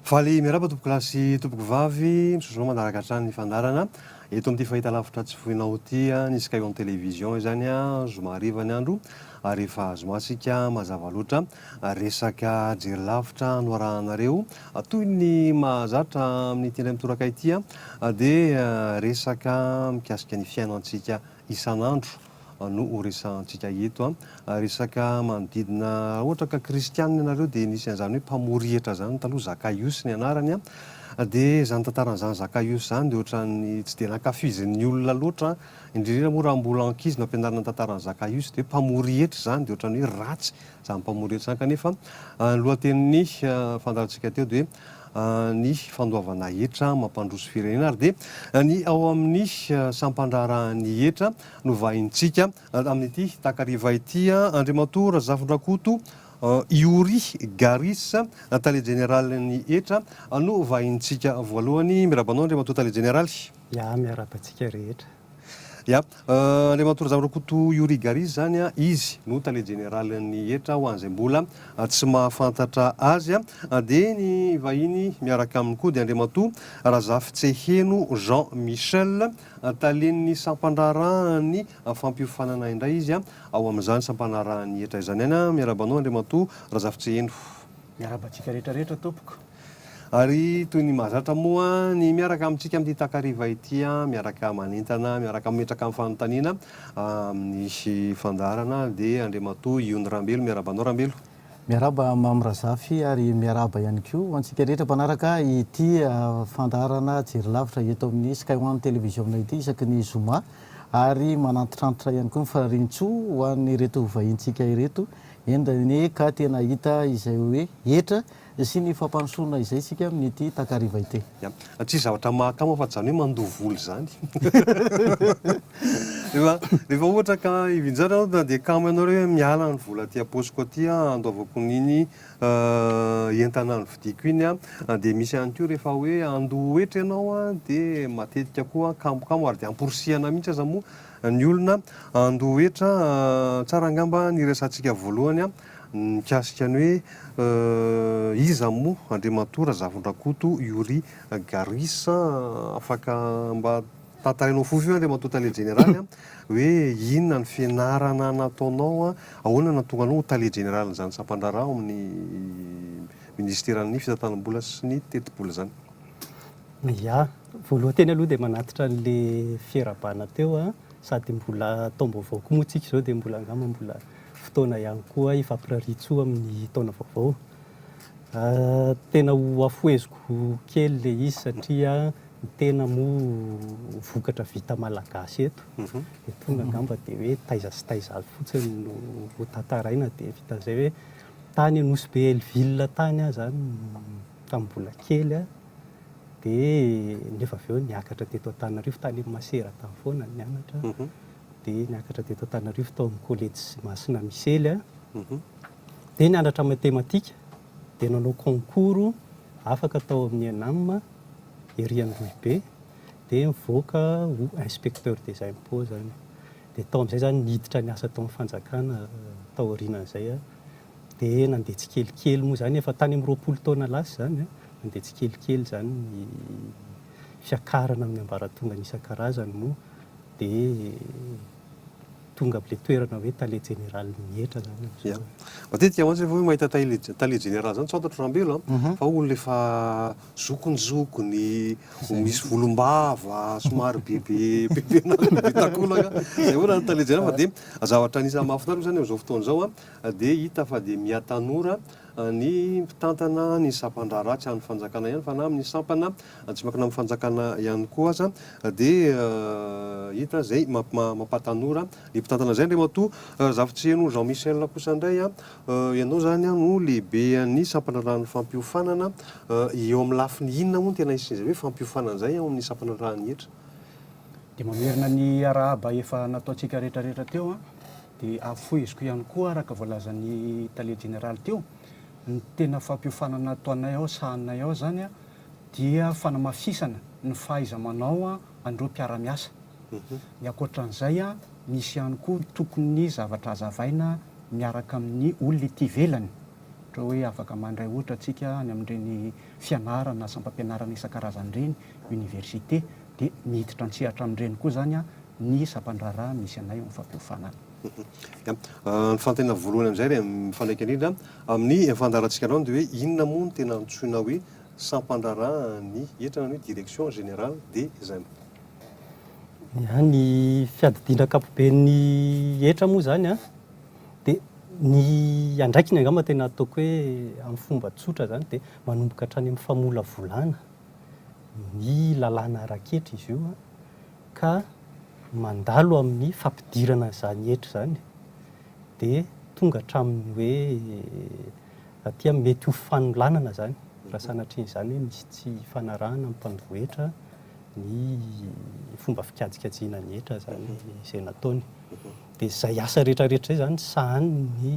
Faly miaraba tompoko lahy sy tompoko vavy, misosono manaraka hatrany ny fandarana. Eto amin'ity fahita lavitra tsy foinao ity, ny Sky One Télévision izany zoma hariva ny andro ary efa zoma isika mazava loatra. Resaka jery lavitra no arahanareo Toy ny mahazatra amin'ity indray mitoraka ity dia resaka mikasika ny fiainantsika isan'andro no ho resahantsika eto. Resaka manodidina raha ohatra ka kristianina ianareo dia nisy an'izany hoe mpamory hetra izany taloha, Zakaiosy ny anarany, dia izany tantaran'izany Zakaiosy izany dia ohatran'ny tsy dia nankafizin'ny olona loatra, indrindra indrindra moa raha mbola ankizy no ampianarina ny tantaran'i Zakaiosy dia hoe mpamory hetra izany dia ohatran'ny hoe ratsy Izany mpamory etsy izany kanefa, ny lohatenin'ny fandaharantsika teo dia hoe ny fandoavana hetra mampandroso firenena ary dia ny ao amin'ny sampandraharahan'ny hetra no vahintsika amin'ity takariva ity. Andriamatoa Razafindrakoto Youri Garis, Tale Jeneralin'ny hetra no vahintsika voalohany. Miraba anao Andriamatoa Tale Jeneraly. Ya, miaraba antsika rehetra. Ya, Andriamatoa Razamirakoto Youri Gary izany an, izy no tale jeneralin'ny hetra ho an'izay mbola tsy mahafantatra azy an, dia ny vahiny miaraka aminy koa dia Andriamatoa Razafitseheno Jean Michel, talen'ny sampandraharahan'ny fampiofanana indray izy an, ao amin'izany sampanarahan'ny hetra izany ihany an, miarahaba anao Andriamatoa Razafitseheno. Miarahaba antsika rehetra rehetra tompoko. Ary toy ny mahazatra moa ny miaraka amintsika amin'ity takariva ity, miaraka manentana, miaraka mametraka ny fanontaniana amin'ny fandaharana dia Andriamatoa Iony Rambelo. Miarahaba anao Rambelo. Miarahaba Mamy Razafy ary miarahaba ihany koa ho antsika rehetra mpanaraka ity fandaharana Jery Lavitra eto amin'ny Sky One Télévision ity isaky ny zoma ary manantitrantitra ihany koa ny faharian-tsoa ho an'ireto vahintsika ireto, eny, eny ka tena hahita izay hoe hetra sy ny fampandrosoana izay isika amin'ity takariva ity. Ya, tsisy zavatra mahakama fa izany hoe mandoa vola izany. Efa, rehefa ohatra ka hivinjara aho dia kamo ianareo hoe miala ny vola aty am-paosiko aty an, handoavako an'iny entana novidiako iny an, dia misy ihany koa rehefa hoe handoa hetra ianao an, dia matetika koa kamokamo ary dia amporisihana mihitsy aza moa ny olona handoa hetra an, tsara angamba ny hiresahantsika voalohany an, mikasika ny hoe iza moa Andriamatoa Razafindrakoto Youri Garris a, afaka mba tantarainao fohy fohy Andriamatoa Tale Jeneraly a, hoe inona ny fianarana nataonao, ahoana no nahatonga anao ho Tale Jeneralin'izany sampandraharaha ao amin'ny Minisiteran'ny Fitantanam-bola sy ny Tetibola izany? Ya, voalohany teny aloha dia manatitra an'ilay fiarahabana teo a. Sady mbola taom-baovao koa moa tsika izao dia mbola angamba mbola fotoana ihany koa hifampirarian-tsoa amin'ny taona vaovao. Tena hohafoheziko kely ilay izy satria ny tena moa vokatra vita malagasy eto. Dia tonga angamba dia hoe taiza sy taiza avy fotsiny no hotantaraina dia vitan'izay hoe tany Nosy be Hellville tany aho izany tamin'ny mbola kely. dia nefa avy eo niakatra teto Antananarivo, tany amin'ny Masera tany foana no nianatra, dia niakatra teto Antananarivo tao amin'ny Kolejy Masina Misely aho, dia nianatra matematika, dia nanao concours afaka tao amin'ny ENAM ery Androhibe, dia nivoaka ho inspecteur des impôts aho, dia tao amin'izay izany niditra niasa tao amin'ny fanjakana taorianan'izay aho, Dia nandeha tsikelikely moa izany, efa tany amin'ny roapolo taona lasa izany an, nandeha tsikelikely izany ny fiakarana amin'ny ambaratongany isan-karazany moa dia tonga amin'ilay toerana hoe Tale Jeneralin'ny hetra izany amin'izao e. Matetika mantsy rehefa hoe mahita Tale Jeneraly izany, tsy fantatro raha ambela an, fa olona efa zokinjokiny, misy volom-bava, somary bebe bebe an'akoho, bebe takolaka, izay hoe raha ny Tale Jeneraly fa dia zavatra anisan'ny mahafinaritra moa izany amin'izao fotoana izao an, dia hita fa dia mihatanora ny mpitantana ny sampan-drà ratsy an'ny fanjakana ihany fa na amin'ny sampana tsy miankina amin'ny fanjakana ihany koa aza dia hita izay mampatanora ny mpitantana izay. Andriamatoa Razafintsiheno Jean Michel kosa indray, ianao izany no lehiben'ny sampan-drà ràn'ny fampiofanana, eo amin'ny lafiny inona moa no tena hisian'izay hoe fampiofanana izay ao amin'ny sampan-drà ràn'ny hetra? Dia mamerina ny arahaba efa nataontsika rehetra rehetra teo. Dia afoiziko ihany koa araka voalazan'ny tale jeneraly teo, ny tena fampiofanana nataonay ao, sahaninay ao izany dia fanamafisana ny fahaiza-manao an'ireo mpiara-miasa. Ny ankoatran'izay, misy ihany koa ny tokony zavatra hazavaina miaraka amin'ny olona ety ivelany, ohatra hoe afaka mandray ohatra tsika any amin'ireny fianarana, asam-pampianarana isan-karazany ireny, université dia miditra an-tsehatra amin'ireny koa izany ny sampandraharaha misy anay ao amin'ny fampiofanana. Ny fanontaniana voalohany amin'izay dia mifandraika indrindra amin'ny fandaharantsika anao dia hoe inona moa no tena antsoina hoe sampandraharaha ny hetra na ny hoe direction générale des impôts? Ia, ny fiadidiana ankapoben'ny hetra moa izany dia ny andraikiny angamba tena ataoko hoe amin'ny fomba tsotra izany dia manomboka hatrany amin'ny famolavolana. ny lalàna ara-ketra izy io ka mandalo amin'ny fampidirana izany hetra izany dia tonga hatramin'ny hoe aty amin'ny mety ho fanolanana izany raha sanatria izany hoe misy tsy ifanarahana amin'ny mpandroba hetra ny fomba fikajinkajina ny hetra izany izay nataony. Dia izay asa rehetrarehetra izay izany sahanin'ny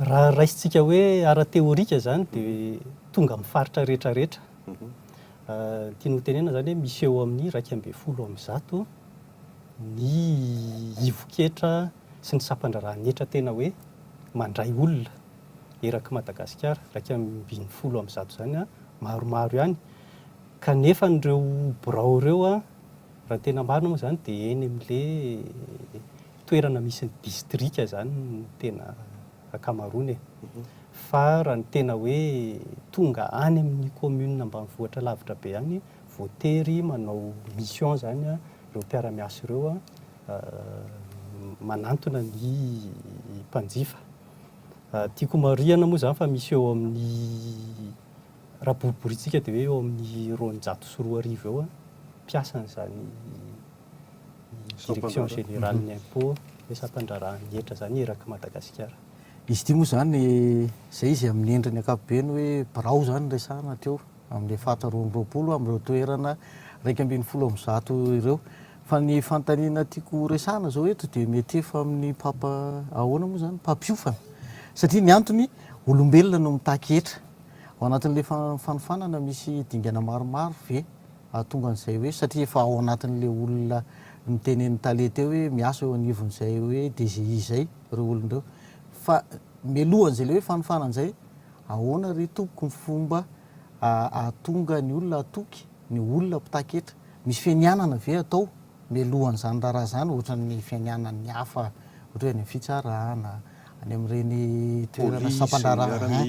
Raha raisintsika hoe ara-teorika izany dia tonga amin'ny faritra rehetra rehetra. Ny tiany hotenenana izany hoe misy eo amin'ny iraika ambin'ny folo amin'ny zato ny ivon-ketra sy ny sampan-draharahan'ny hetra tena hoe mandray olona erak'i Madagasikara. Iraika ambin'ny folo amin'ny zato izany maromaro ihany. Kanefa an'ireo birao ireo raha ny tena marina moa izany dia eny amin'ilay toerana misy ny distrika izany no tena ankamaroany e. Fa raha ny tena hoe tonga any amin'ny commune ambanivohitra lavitra be any, voatery manao mission izany ireo mpiara-miasa ireo manantona ny mpanjifa. Tiako homarihina moa izany fa misy eo amin'ny, raha boriborintsika dia hoe eo amin'ny roanjato sy roa arivo eo mpiasan'izany. Direction générale ny impôt hoe sampandraharahan'ny hetra izany erak'i Madagasikara. Izy ity moa izany, izay izy amin'ny endriny ankapobeny hoe birao izany no resahana hatreo, amin'ny faritra roa amby roapolo amin'ireo toerana iraika ambin'ny folo amby zato ireo. Fa ny fanontaniana tiako horesahana izao eto dia mety efa amin'ny mpampa, ahoana moa izany, mpampiofana. Satria ny antony, olombelona no mitaky hetra. Ao anatin'ilay fanofanana misy dingana maromaro ve? Hahatonga an'izay hoe satria efa ao anatin'ilay olona nitenenin'i Tale teo hoe miasa eo anivon'izay hoe DGI izay ireo olona ireo. Fa mialohan'izay ilay hoe fanofana an'izay, ahoana ry tompoko ny fomba hahatonga ny olona hatoky ny olona mpitaky hetra? Misy fianianana ve atao Melohan' izany raharaha izany ohatra ny fianianan' ny hafa ohatra hoe any amin' ny fitsarana, any amin' ireny toerana sampan-draharaha,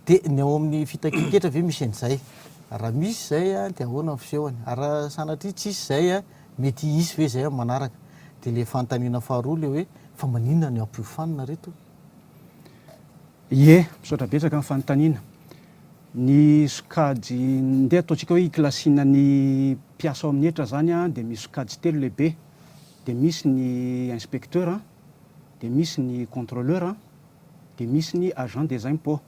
dia ny ao amin' ny fitakian-ketra ve misy an' izay? Raha misy izay dia ahoana ny fisehony? Ary raha sanatria tsisy izay, mety hisy ve izay amin' ny manaraka? Dia ilay fanontaniana faharoa ilay hoe fa maninona no ampiofanina ry reto? Ie, misaotra betsaka amin'ny fanontaniana. Ny sokajy, ndeha ataontsika hoe ikilasiana ny mpiasa ao amin'ny hetra izany dia misy sokajy telo lehibe, dia misy ny inspecteur, dia misy ny contrôleur, dia misy ny agent des impôts.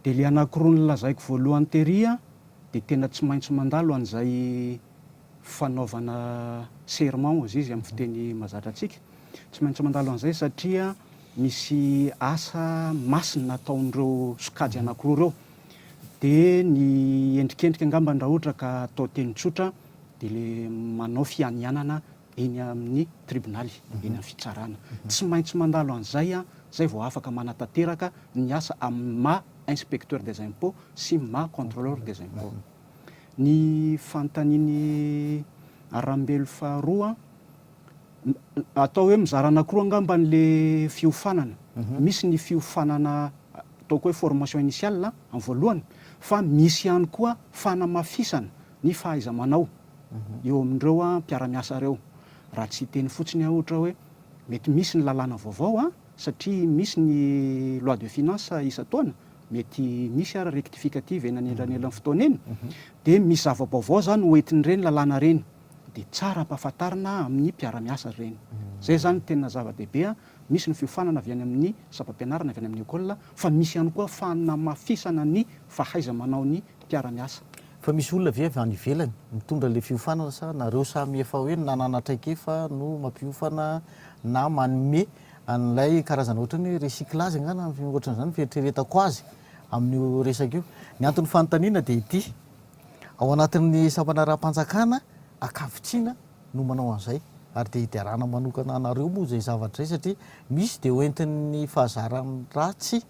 Dia ilay anankiroa nolazaiko voalohany tery dia tena tsy maintsy mandalo an'izay. fanaovana serment hozy izy amin'ny fiteny mazatra antsika. Tsy maintsy mandalo an'izay satria misy asa masina ataon'ireo sokajy anankiroa ireo. Dia ny endrikendrika angambany raha ohatra ka atao teny tsotra dia ilay manao fianianana eny amin'ny tribonaly, eny amin'ny fitsarana. Tsy maintsy mandalo an'izay, izay vao afaka manatanteraka ny asa amin'ny maha inspecteur des impôts sy maha contrôleur des impôts. ny fanontanian'i Arambelo faharoa an, atao hoe mizara anankiroa angamba ilay fiofanana, misy ny fiofanana ataoko hoe formation initiale amin'ny voalohany, fa misy ihany koa fanamafisana ny fahaiza-manao eo amin'ireo mpiara-miasa ireo. Raha tsy hiteny fotsiny aho ohatra hoe mety misy ny lalàna vaovao an, satria misy ny loi de finance isan-taona, mety misy ary rectificative eny anelanelan'ny fotoana eny, dia misy zava-baovao izany hoentin'ireny lalàna ireny, dia tsara ampahafantarina amin'ny mpiara-miasa ireny. Izay izany no tena zava-dehibe, misy ny fiofanana avy any amin'ny sampam-pianarana, avy any amin'ny école, fa misy ihany koa fanamafisana ny fahaiza-manaon'ny mpiara-miasa. Fa misy olona ve avy any ivelany mitondra ilay fiofanana sa nareo samy efa hoe nanana traikefa no mampiofana na manome an'ilay karazana ohatran'ny hoe recyclage angaha na ohatran'izany ny fieritreretako azy amin'io resaka io. Ny anton'ny fanontaniana dia ity, ao anatin'ny sampanaraham-panjakana ankavitsiana no manao an'izay ary dia hiderana manokana anareo moa izay zavatra izay satria misy dia hoentin'ny fahazaran'ny ratsy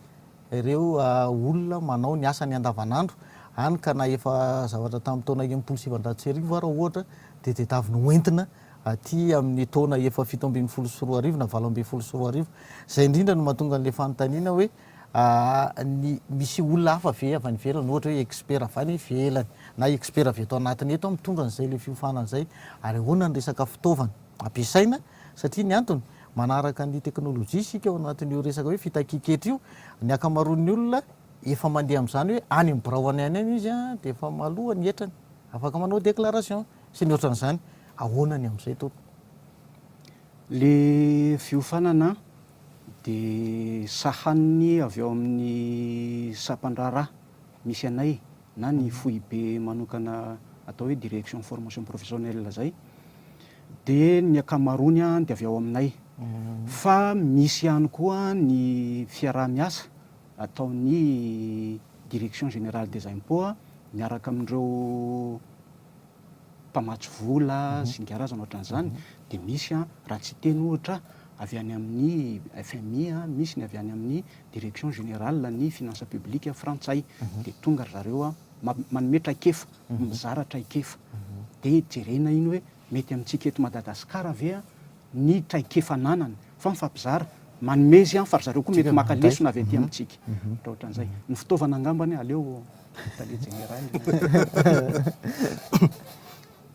ireo olona manao ny asany andavanandro any ka na efa zavatra tamin'ny taona enimpolo sy sivinjato sy arivo ara ohatra dia tedavina ho entina aty amin'ny taona efa fito ambin'ny folo sy roa arivo na valo ambin'ny folo sy roa arivo izay indrindra no mahatonga an'ilay fanontaniana hoe ny misy olona hafa ve avy any ivelany ohatra hoe expert avy any ivelany na expert avy eto anatiny eto mitondra an'izay ilay fiofanana izay ary ahoana ny resaka fitaovana ampiasaina satria ny antony Manaraka ny teknolojia isika ao anatin'io resaka hoe fitakian-ketra io. Ny ankamaroan'ny olona efa mandeha amin'izany hoe any amin'ny birao any any any izy dia efa maloha ny hetrany. Afaka manao déclaration sy ny ohatran'izany. Ahoana ny amin'izay tompoko? Le fiofanana dia sahaniny avy ao amin'ny sampan-draharaha misy anay na ny foibe manokana atao hoe direction formation professionnelle izay dia ny ankamaroany dia avy ao aminay fa misy ihany koa ny fiaraha-miasa ataon'ny direction générale des impôts miaraka amin'ireo mpamatsy vola, zinga razana ohatran'izany, dia misy an, raha tsy hiteny ohatra, avy any amin'ny FMI, misy ny avy any amin'ny Direction Générale ny Finances Publiques frantsay, dia tonga ry zareo an, manome traikefa, mizara traikefa, dia jerena iny hoe mety amintsika eto Madagasikara ve an, ny traikefa ananany fa mifampizara, manome izy fa ry zareo koa mety maka lesona avy aty amintsika, ohatrohatran'izay. Ny fitaovana angambany aleo tale jeneraly.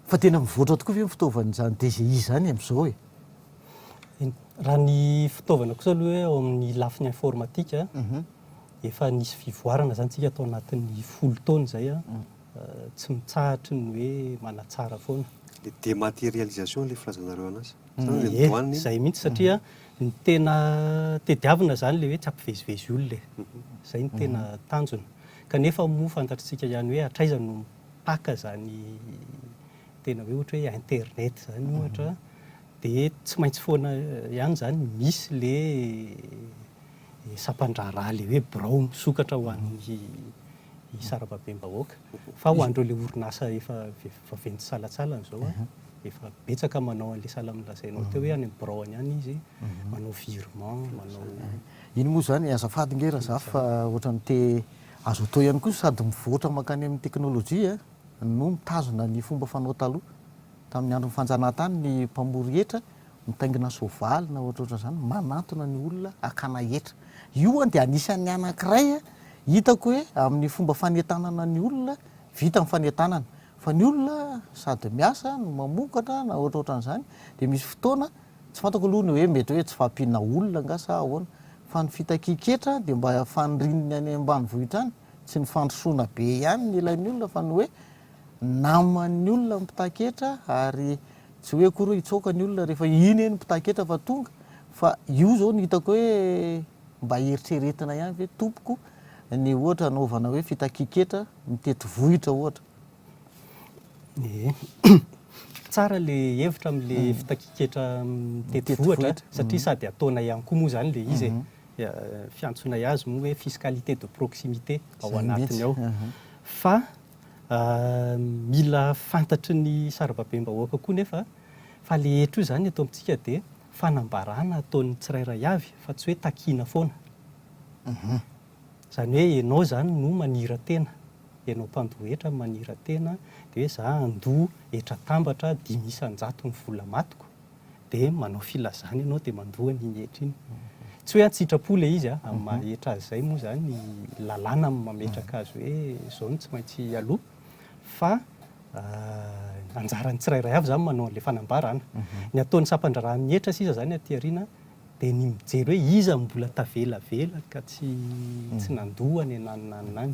Fa tena mivoatra tokoa ve ny fitaovan'izany DGI izany amin'izao e? Raha ny fitaovana kosa aloha hoe ao amin'ny lafiny informatika, efa nisy fivoarana izany isika tao anatin'ny folo taona izay. tsy mitsahatry ny hoe manatsara foana. Le dématérialisation le filazanareo an'asa. Ie, zay mihitsy satria ny tena tediavina zany le hoe tsy ampivezivezy olona e. Zay no tena tanjona. Kanefa moa fantatritsika ihany hoe hatraiza no mipaka zany tena hoe ohatra hoe internet zany ohatra, de tsy maintsy foana ihany zany misy le. ny sampan-draharaha ilay hoe birao misokatra ho an'ny sarababem-bahoaka. Fa ho an'ireo ilay orinasa efa vaventy salantsalany izao an, efa betsaka manao an'ilay sahala amin'ny lazainao teo hoe any amin'ny biraony any izy, manao virement, manao. Iny moa izany, azafady ange Razafy fa ohatran'ny te, azo atao ihany koa sady mivoatra mankany amin'ny teknolojia no mitazona ny fomba fanao taloha. Tamin'ny andron'ny fanjanahantany ny mpamory hetra mitaingina soavaly na ohatrohatran' izany manantona ny olona hakana hetra. Io an dia anisan'ny anankiray hitako hoe amin'ny fomba fanentanana ny olona vita ny fanentanana. Fa ny olona sady miasa no mamokatra na ohatrohatran' izany dia misy fotoana, tsy fantako aloha ny hoe mety hoe tsy fahampiana olona angaha sa ahoana, fa ny fitakian-ketra dia mba fanirininy any ambanivohitra any, tsy ny fandrosoana be ihany ny ilain'ny olona fa ny hoe naman'ny olona ny mpitaky hetra ary Tsy hoe akory hoe hitsoaka ny olona rehefa iny eny mpitahaketra fa tonga fa io zao no hitako hoe mba heritreretina ihany ve tompoko ny ohatra anaovana hoe fitakian-ketra ny tetivohitra ohatra. Ie, tsara le hevitra amle fitakian-ketra amin'ny tetivohitra satria sady ataonay ihany koa moa zany le izy e, fiantsonay azy moa hoe fiscalité de proximité ao anatiny ao fa Mila fantatry ny sarababem-bahoaka koa nefa fa ilay hetra io izany eto amintsika dia fanambarana ataon'ny tsirairay avy fa tsy hoe takiana foana. Izany hoe ianao izany no manira-tena, ianao mpandoa hetra no manira-tena dia hoe za handoa hetra atambatra dimy isan-jatony vola matiko, dia manao filazana ianao dia mandoa an'iny hetra iny. Tsy hoe an-tsitrapo ilay izy amin'ny mhm. maha hetra azy izay moa izany ny lalàna amin'ny mametraka mhm. azy hoe izao no tsy maintsy aloha fa euh, anjaran'ny tsirairay avy izany manao an'ilay fanambarana. Mhm. Ny ataon'ny sampandraharahan'ny hetra sisa izany aty aoriana dia ny mijery hoe iza mbola tavelavela ka tsy tsy nandoa any ananananany.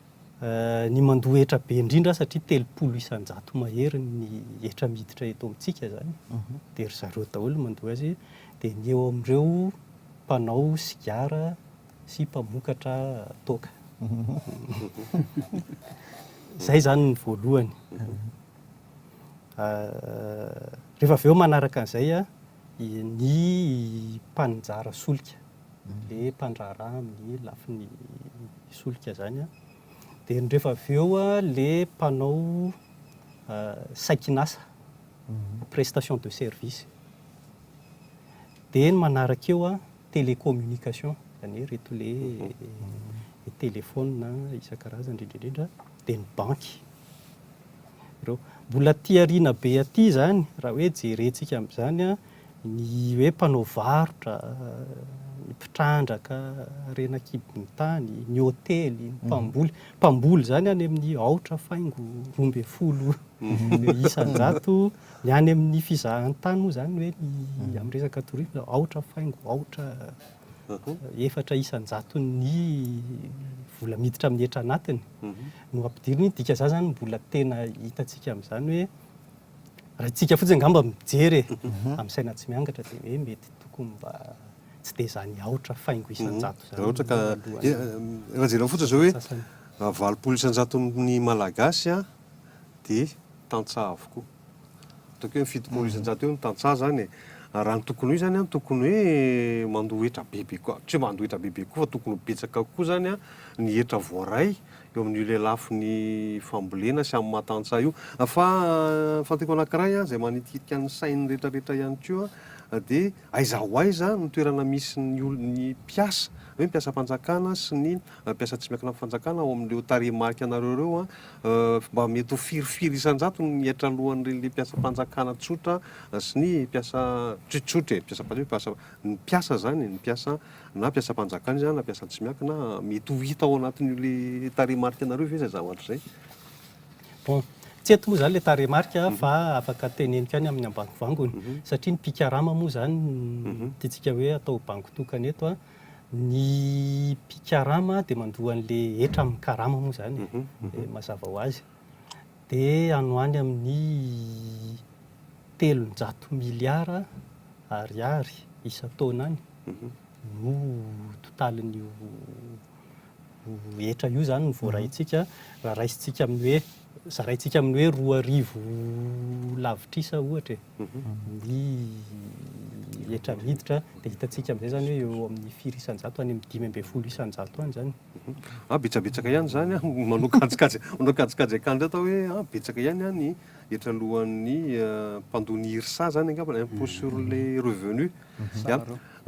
Ny mandoa hetra be indrindra satria telopolo isan-jato mahery ny hetra miditra eto amintsika izany dia ry zareo daholo no mandoa azy, dia ny eo amin'ireo mpanao sigara sy mpamokatra toaka. Izay izany ny voalohany. Rehefa avy eo manaraka an'izay ny mpaninjara solika. le mpandraharaha amin'ny lafiny solika zany an, dia ny rehefa avy eo le mpanao saikin'asa, prestation de service, dia ny manaraka eo an, télécommunication, zany hoe ireto le telefaonina isan-karazany indrindra indrindra, dia ny banky. Ireo. Mbola aty aoriana be aty zany, raha hoe jerentsika amin'izany an, Ny hoe mpanao varotra, ny mpitrandraka, harena an-kibon'ny tany, ny hotely, ny mpamboly. Mpamboly izany any amin'ny aotra faingo roa ambin'ny folo isan-jato. Ny any amin'ny fizahantany moa izany hoe ny amin'ny resaka tourisme, aotra faingo aotra efatra isan-jaton'ny vola miditra amin'ny hetra anatiny no ampidirina. Ny dika izany izany mbola tena hitantsika amin'izany hoe Raha isika fotsiny angamba mijery e, amin'ny saina tsy miangatra dia hoe mety tokony mba tsy dia izany aotra faingo isan-jato izany. Raha ohatra ka, raha jerena fotsiny izao hoe raha valopolo isan-jaton'ny Malagasy dia tantsaha avokoa. Ataoko hoe fitopolo isan-jato eo no tantsaha izany e. Raha ny tokony ho izy izany an, tokony hoe mandoa hetra bebe koa, tsy hoe mandoa hetra bebe koa fa tokony ho betsaka kokoa izany ny hetra voaray eo amin'io lelafin'ny fambolena sy amin'ny maha tantsaha io. Fa ny fantako anankiray izay manitikitika ny sain'ny rehetrarehetra ihany koa dia aiza ho aiza ny toerana misy ny olona, ny mpiasa, hoe ny mpiasam-panjakana sy ny mpiasa tsy miankina amin'ny fanjakana ao amin'ireo tarehimarika anareo ireo an, mba mety ho firy firy isan-jato ny mihaitra alohan'ireny le mpiasam-panjakana tsotra sy ny mpiasa tsotsotra e, mpiasam-panjakana, ny mpiasa izany e, ny mpiasa na mpiasam-panjakana izy na mpiasan-tsy miankina, mety ho hita ao anatin'io le tarehimarika anareo ve izay zavatra izay? Bon, tsy eto moa izany ilay tarehimarika fa afaka teneniko ihany amin'ny ambangovangony, satria ny mpikarama moa izany no tiantsika hoe atao bango tokana eto, ny mpikarama dia mandoa an'ilay hetra amin'ny karama moa izany e, mazava ho azy. dia any ho any amin'ny telonjato miliara ariary isan-taona any no totalin'io hetra io izany no voaraintsika, raha raisintsika amin'ny hoe, zaraintsika amin'ny hoe roa arivo lavitrisa ohatra e, ny hetra miditra dia hitantsika amin'izay izany hoe eo amin'ny firy isan-jato, any amin'ny dimy ambin'ny folo isan-jato any izany. An, betsabetsaka ihany izany an, manao kajikajy, manao kajikajy akandra eto aho hoe an, betsaka ihany an ny hetra alohan'ny mpandoa ny IRSA izany angamba, impôt sur les revenus,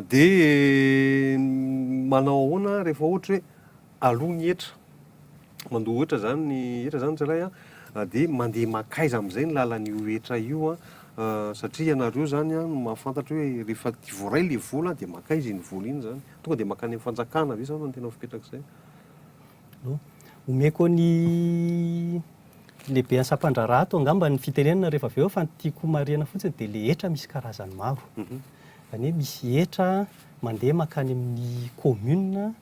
dia manao ahoana rehefa ohatra hoe aloa ny hetra, mandoa hetra izany ny hetra izany ny tsirairay an, dia mandeha mankaiza amin'izay ny lalan'io hetra io an, satria ianareo izany an no mahafantatra hoe rehefa voaray ilay vola dia mankaiza iny vola iny izany. Tonga dia mankany amin'ny fanjakana ve zao no tena fipetrak'izay? No. Omeko ny lehibe asam-pandraharaha ato angamba ny fitenenana rehefa avy eo fa ny tiako homarihana fotsiny dia ilay hetra misy karazany maro. Izany hoe misy hetra mandeha mankany amin'ny commune,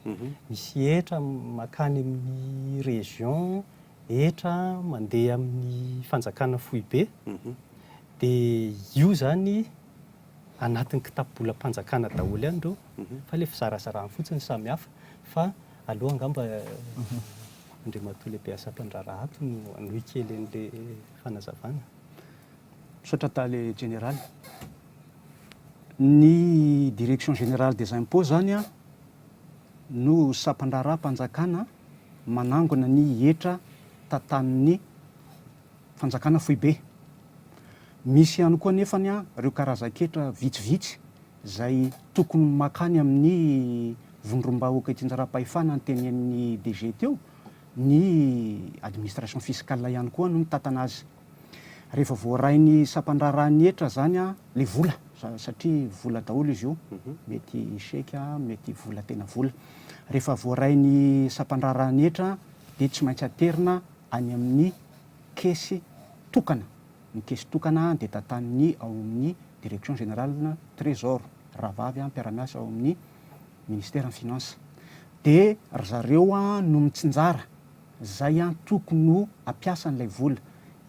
misy hetra mankany amin'ny région, hetra mandeha amin'ny fanjakana foibe. Dia io izany anatin'ny kitapobolam-panjakana daholo ihany ireo fa ilay fizarazarana fotsiny samy hafa fa aleo angamba Andriamatoa Lehibe Asatrandraharaha ato no hanohy kely an'ilay fanazavana. Misaotra Tale Jeneraly. Ny Direction Générale des Impôts izany no sampan-draharaham-panjakana manangona ny hetra tantanin'ny Fanjakana foibe. Misy ihany koa anefany ireo karazan-ketra vitsivitsy izay tokony makany amin'ny vondrom-bahoaka itsinjaram-pahefana notenenin'ny DG teo, ny administration fiscale ihany koa no mitantana azy. Rehefa voaray ny sampandraharahan'ny hetra izany ilay vola, satria vola daholo izy io, mety chèque, mety vola tena vola. Rehefa voaray ny sampandraharahan'ny hetra dia tsy maintsy aterina any amin'ny kesy tokana. Ny kesy tokana dia tantanin'ny ao amin'ny Direction Générale du Trésor, rahavavy mpiara-miasa ao amin'ny Ministeran'ny Finances. Dia ry zareo no mitsinjara izay tokony ho ampiasan'ilay vola.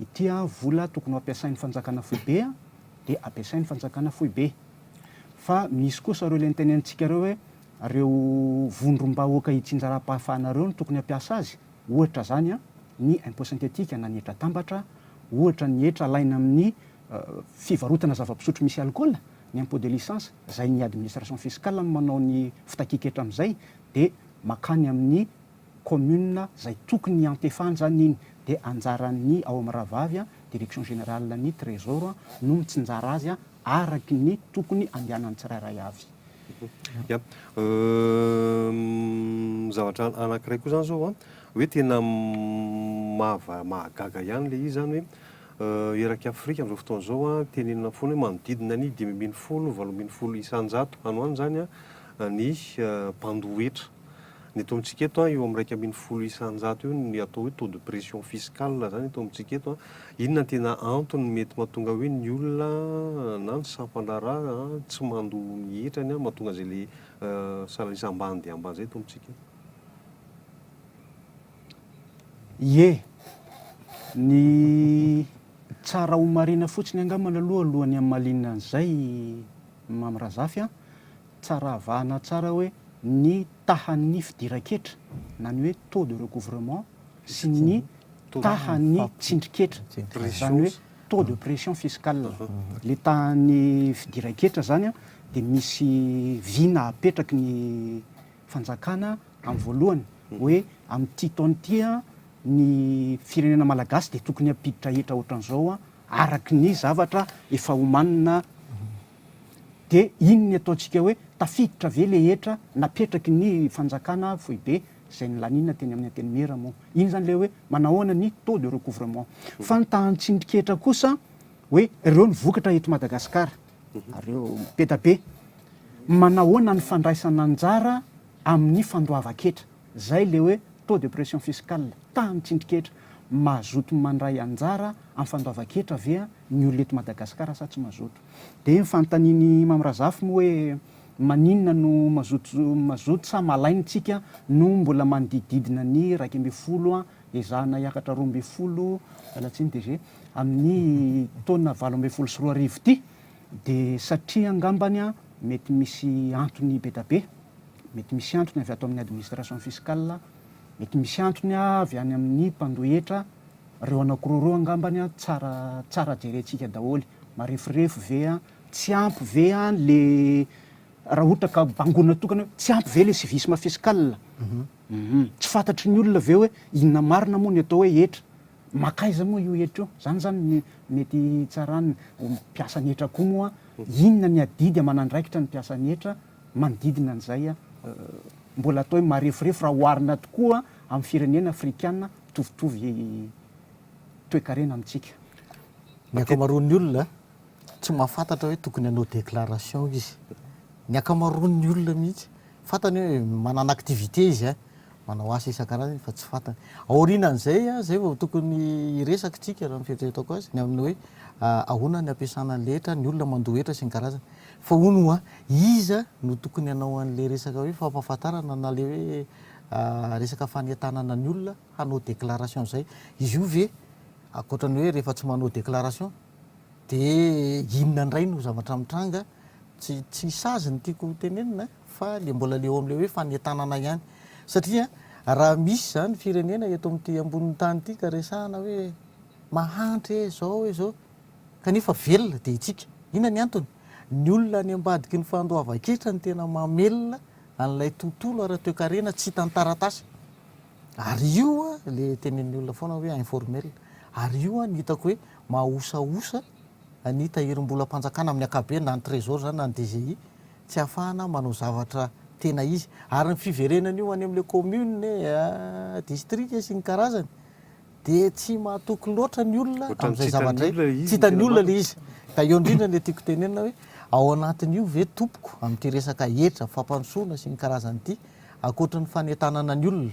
Ity vola tokony ho ampiasain'ny fanjakana foibe dia ampiasain'ny fanjakana foibe. Fa misy kosa ireo ilay nitenenitsika ireo hoe ireo vondrom-bahoaka itsinjaram-pahafahana ireo no tokony hampiasa azy. ohatra izany an, ny impôt synthétique na ny hetra atambatra, ohatra ny hetra alaina amin'ny fivarotana zava-pisotro misy alikaola, ny impôt de licence, izay ny administration fiscale no manao ny fitakian-ketra amin'izay, dia makany amin'ny commune izay tokony hiantefahan izany iny, dia anjaran'ny ao amin'ny rahavavy an, direction générale ny trésor no mitsinjara azy an, araky ny tokony handehanan'ny tsirairay avy. Ya, zavatra anankiray koa izany izao an, hoe tena mahava, mahagaga ihany ilay izy izany hoe erak'i Afrika amin'izao fotoana izao an, tenenina foana hoe manodidina ny dimy ambin'ny folo, valo ambin'ny folo isan-jato, any ho any izany an, ny mpandoa hetra. Ny eto amintsika eto an, eo amin'ny iraika ambin'ny folo isan-jato eo ny atao hoe taux de pression fiscale izany eto amintsika eto an. Inona no tena antony mety mahatonga hoe ny olona na ny sampan-draharaha tsy mandoa ny hetrany an, mahatonga izay ilay salarisy ambany dia ambany izay eto amintsika eto? Ie, ny tsara homarihina fotsiny angambany aloha alohan'ny hamalinina an'izay Mamy Razafy an, Tsaravahana tsara hoe ny tahan'ny fidiran-ketra na ny hoe taux de recouvrement sy ny tahan'ny tsindrin-ketra, izany hoe taux de pression fiscale. Ilay tahan'ny fidiran-ketra izany dia misy vina apetraky ny fanjakana amin'ny voalohany hoe amin'ity taona ity ny firenena malagasy dia tokony hampiditra hetra ohatran'izao araka ny zavatra efa omanina Dia inn ny ataontsika hoe tafiditra ve le hetra napetraky ny fanjakana foibe izay nilanina teny amin'ny antenimiera moa? Iny izany ilay hoe manahoana ny taux de recouvrement. Fa ny tahan-tsindriketra kosa hoe ireo ny vokatra eto Madagasikara ary ireo mipeta be. Manahoana ny fandraisana anjara amin'ny fandoavan-ketra. Izay ilay hoe taux de pression fiscale, tahan-tsindriketra. Mazoto mandray anjara amin'ny fandoavan-ketra ve ny olona eto Madagasikara sa tsy mazoto? Dia ny fanontanian'i Imam Razaf moa hoe maninona no mazoto mazoto sa malain tsika no mbola manodididina ny iraika ambin'ny folo ezahana hiakatra roa ambin'ny folo miala tsiny DG amin'ny taona valo ambin'ny folo sy roa arivo ity dia satria angambany mety misy antony bedabe mety misy antony avy ato amin'ny administration fiscal mety misy antony avy any amin'ny mpandohetra reo anakiroa reo angambany tsara tsara jerentsika daholo Mareforefo ve an? Tsy ampy ve an le raha ohatra ka bangoina tokana hoe tsy ampy ve le civisme fiscal? Tsy fantatry ny olona ve hoe inona marina moa ny atao hoe hetra? Mankaiza moa io hetra io? Zany zany ny mety hitsarany mpiasa ny hetra koa moa inona ny adidy aman'andraikitra ny mpiasa ny hetra manodidina an'izay an? Mbola atao hoe mareforefo raha oharina tokoa amin'ny firenena afrikana mitovitovy toekarena amintsika. Ny ankamaroan'ny olona tsy mahafantatra hoe tokony hanao déclaration izy. Ny ankamaroan'ny olona mihitsy, fantany hoe manana activité izy a, manao asa isan-karazany fa tsy fantany. Aorianan'izay a, izay vao tokony hiresaka isika raha ny fieritreretako azy, ny amin'ny hoe ahoana ny ampiasana an'ilay hetra, ny olona mandoa hetra sy ny karazany. Fa hono hoa, iza no tokony hanao an'ilay resaka hoe fampahafantarana na ilay hoe resaka fanentanana ny olona hanao déclaration izay? Izy io ve Ankoatra ny hoe rehefa tsy manao déclaration de inona indray no zavatra mitranga, tsy tsy sazy ny tiako ho tenenina fa le mbola le eo amle hoe fanentanana ihany satria raha misy zany firenena eto amty ambonin'ny tany ity ka resahana hoe mahantra e zao e zao kanefa velona de itsika, inona ny antony? ny olona any ambadiky ny fandoavan-ketra no tena mamelona an'ilay tontolo ara-toekarena tsy hitan'ny taratasy. Ary io le tenenin'ny olona foana hoe informel. Ary io no hitako hoe mahaosaosa ny tahirim-bolam-panjakana amin'ny ankapobeny, na ny Trésor izany na ny DGI, tsy ahafahana manao zavatra tena izy. Ary ny fiverenan'io any amin'ilay commune e, district e sy ny karazany, dia tsy mahatoky loatra ny olona amin'izay zavatra izay, tsy hitan'ny olona ilay izy. Ka eo indrindra ilay tiako tenenina hoe ao anatin'io ve tompoko amin'ity resaka hetra, fampandrosoana sy ny karazany ity, ankoatra ny fanentanana ny olona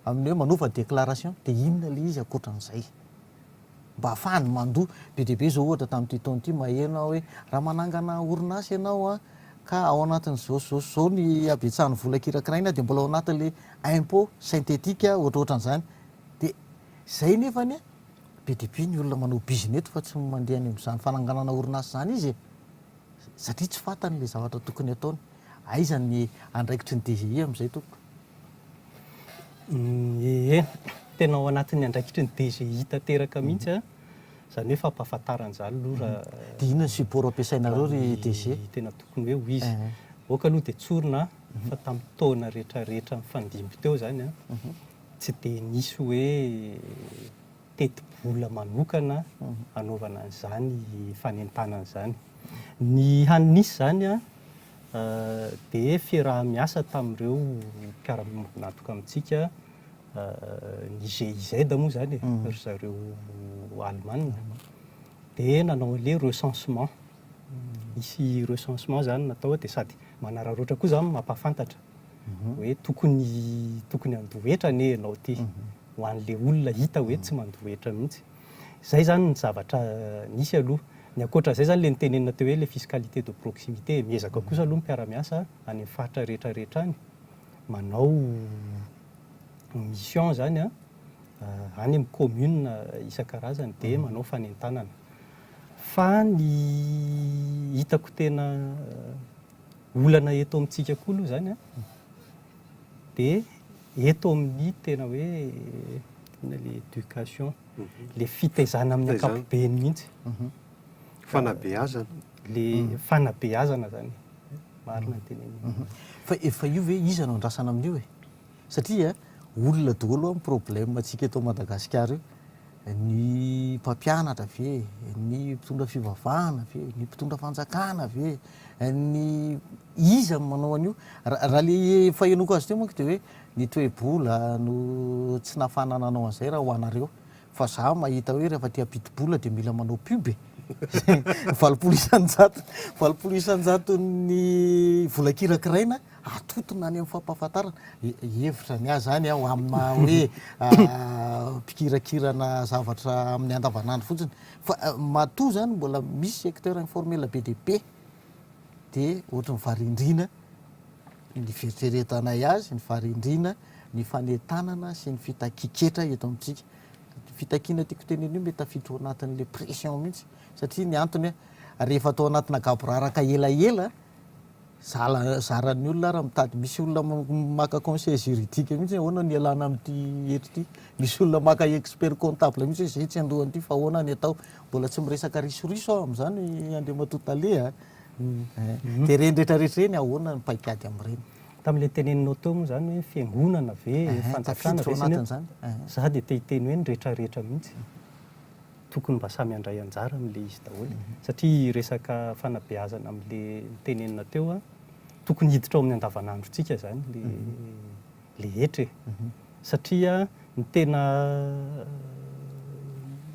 amin'ny hoe manova déclaration dia inona ilay izy ankoatran'izay? mba hahafahany mandoa. Be dia be izao ohatra tamin'ity taona ity maheno aho hoe raha manangana orinasa ianao ka ao anatin'izao sy izao sy izao ny habetsahan'ny vola kirakiraina dia mbola ao anatin'ilay impôt synthétique ohatrohatran'izany, De zay nefany a, be dia be ny olona manao bizina eto fa tsy mandeha any amin'izany fananganana orinasa izany izy e! satria tsy fantany le zavatra tokony ataony. Aiza ny andraikitry ny DGI amin'izay tompoko? Ie, tena ao anatin'ny andraikitry ny DGI tanteraka mihitsy an, izany hoe fampahafantarana izany aloha raha. Dia inona ny support ampiasainareo ry DG? Ny tena tokony hoe ho izy. Aoka aloha dia tsorina fa tamin'ny taona rehetrarehetra nifandimby teo izany an, Tsy dia nisy hoe tetibola manokana hanaovana an'izany fanentanana izany. Ny hany nisy izany dia fiaraha-miasa tamin'ireo mpiara-miombon'antoka amintsika, ny GIZ moa izany e, ry zareo Alemana, dia nanao an'ilay recensement. Nisy recensement izany natao dia sady manararaotra koa izany no mampahafantatra. hoe tokony tokony handoa hetra anie ianao ity ho an'ilay olona hita hoe tsy mandoa hetra mihitsy. Izay izany ny zavatra nisy aloha. Ny ankoatra an'izay izany ilay notenenina teo hoe ilay fiscalité de proximité. Miezaka kosa aloha ny mpiara-miasa any amin'ny faritra rehetra rehetra any manao mission izany any amin'ny commune isan-karazany dia manao fanentanana. Fa ny hitako tena Olana eto amintsika koa aloha izany dia eto amin'ny tena hoe inona ilay éducation, ilay fitaizana amin'ny ankapobeny mihitsy. Fanabeazana. Ilay fanabeazana izany e. Marina ny tenenao. Fa io ve iza no andrasana amin'io e? Satria olona daholo an problème antsika eto Madagascar io, ny mpampianatra ve, ny mpitondra fivavahana ve, ny mpitondra fanjakana ve, ny iza no manao an'io? Raha le efa henoiko azy teo manko de hoe ny toe-bola no tsy nahafahana nanao an'izay raha ho anareo. Fa za mahita hoe rehefa te hampidi-bola dia mila manao pub e! Izay valopolo isan-jatony, valopolo isan-jaton'ny vola kirakiraina atotona any amin'ny fampahafantarana. Hevitra ny ahy izany an, ho amin'ny maha hoe mpikirakirana zavatra amin'ny andavanandro fotsiny. Fa matoa izany mbola misy secteur informel be dia be dia ohatran'ny varindriana. ny fieritreretanay azy, ny faharendrena, ny fanentanana sy ny fitakiketra eto amintsika. Io fitakiana tiako tenena io mety tafiditra ao anatin'ilay pression mihitsy satria ny antony rehefa atao anatina gaboraraka elaela zala- zaran'ny olona ary mitady misy olona m- maka conseil juridique mihitsy hoe ahoana no ialana amin'ity hetra ity. Misy olona maka expert comptable mihitsy hoe zay tsy andohan'ity fa ahoana ny atao. Mbola tsy miresaka risoriso aho amin'izany Andriamatoa Tale a! Dia ireny rehetra rehetra ireny ahoana ny paikady amin'ireny? Tamin'ilay teneninao teo moa izany hoe fiangonana ve, fanjakana ve sy ny. Izaho dia te hiteny hoe ny rehetra rehetra mihitsy tokony mba samy handray anjara amin'ilay izy daholo e. Satria resaka fanabeazana amin'ilay notenenina teo, tokony hiditra ao amin'ny andavanandrontsika izany ilay ilay hetra e. Satria ny tena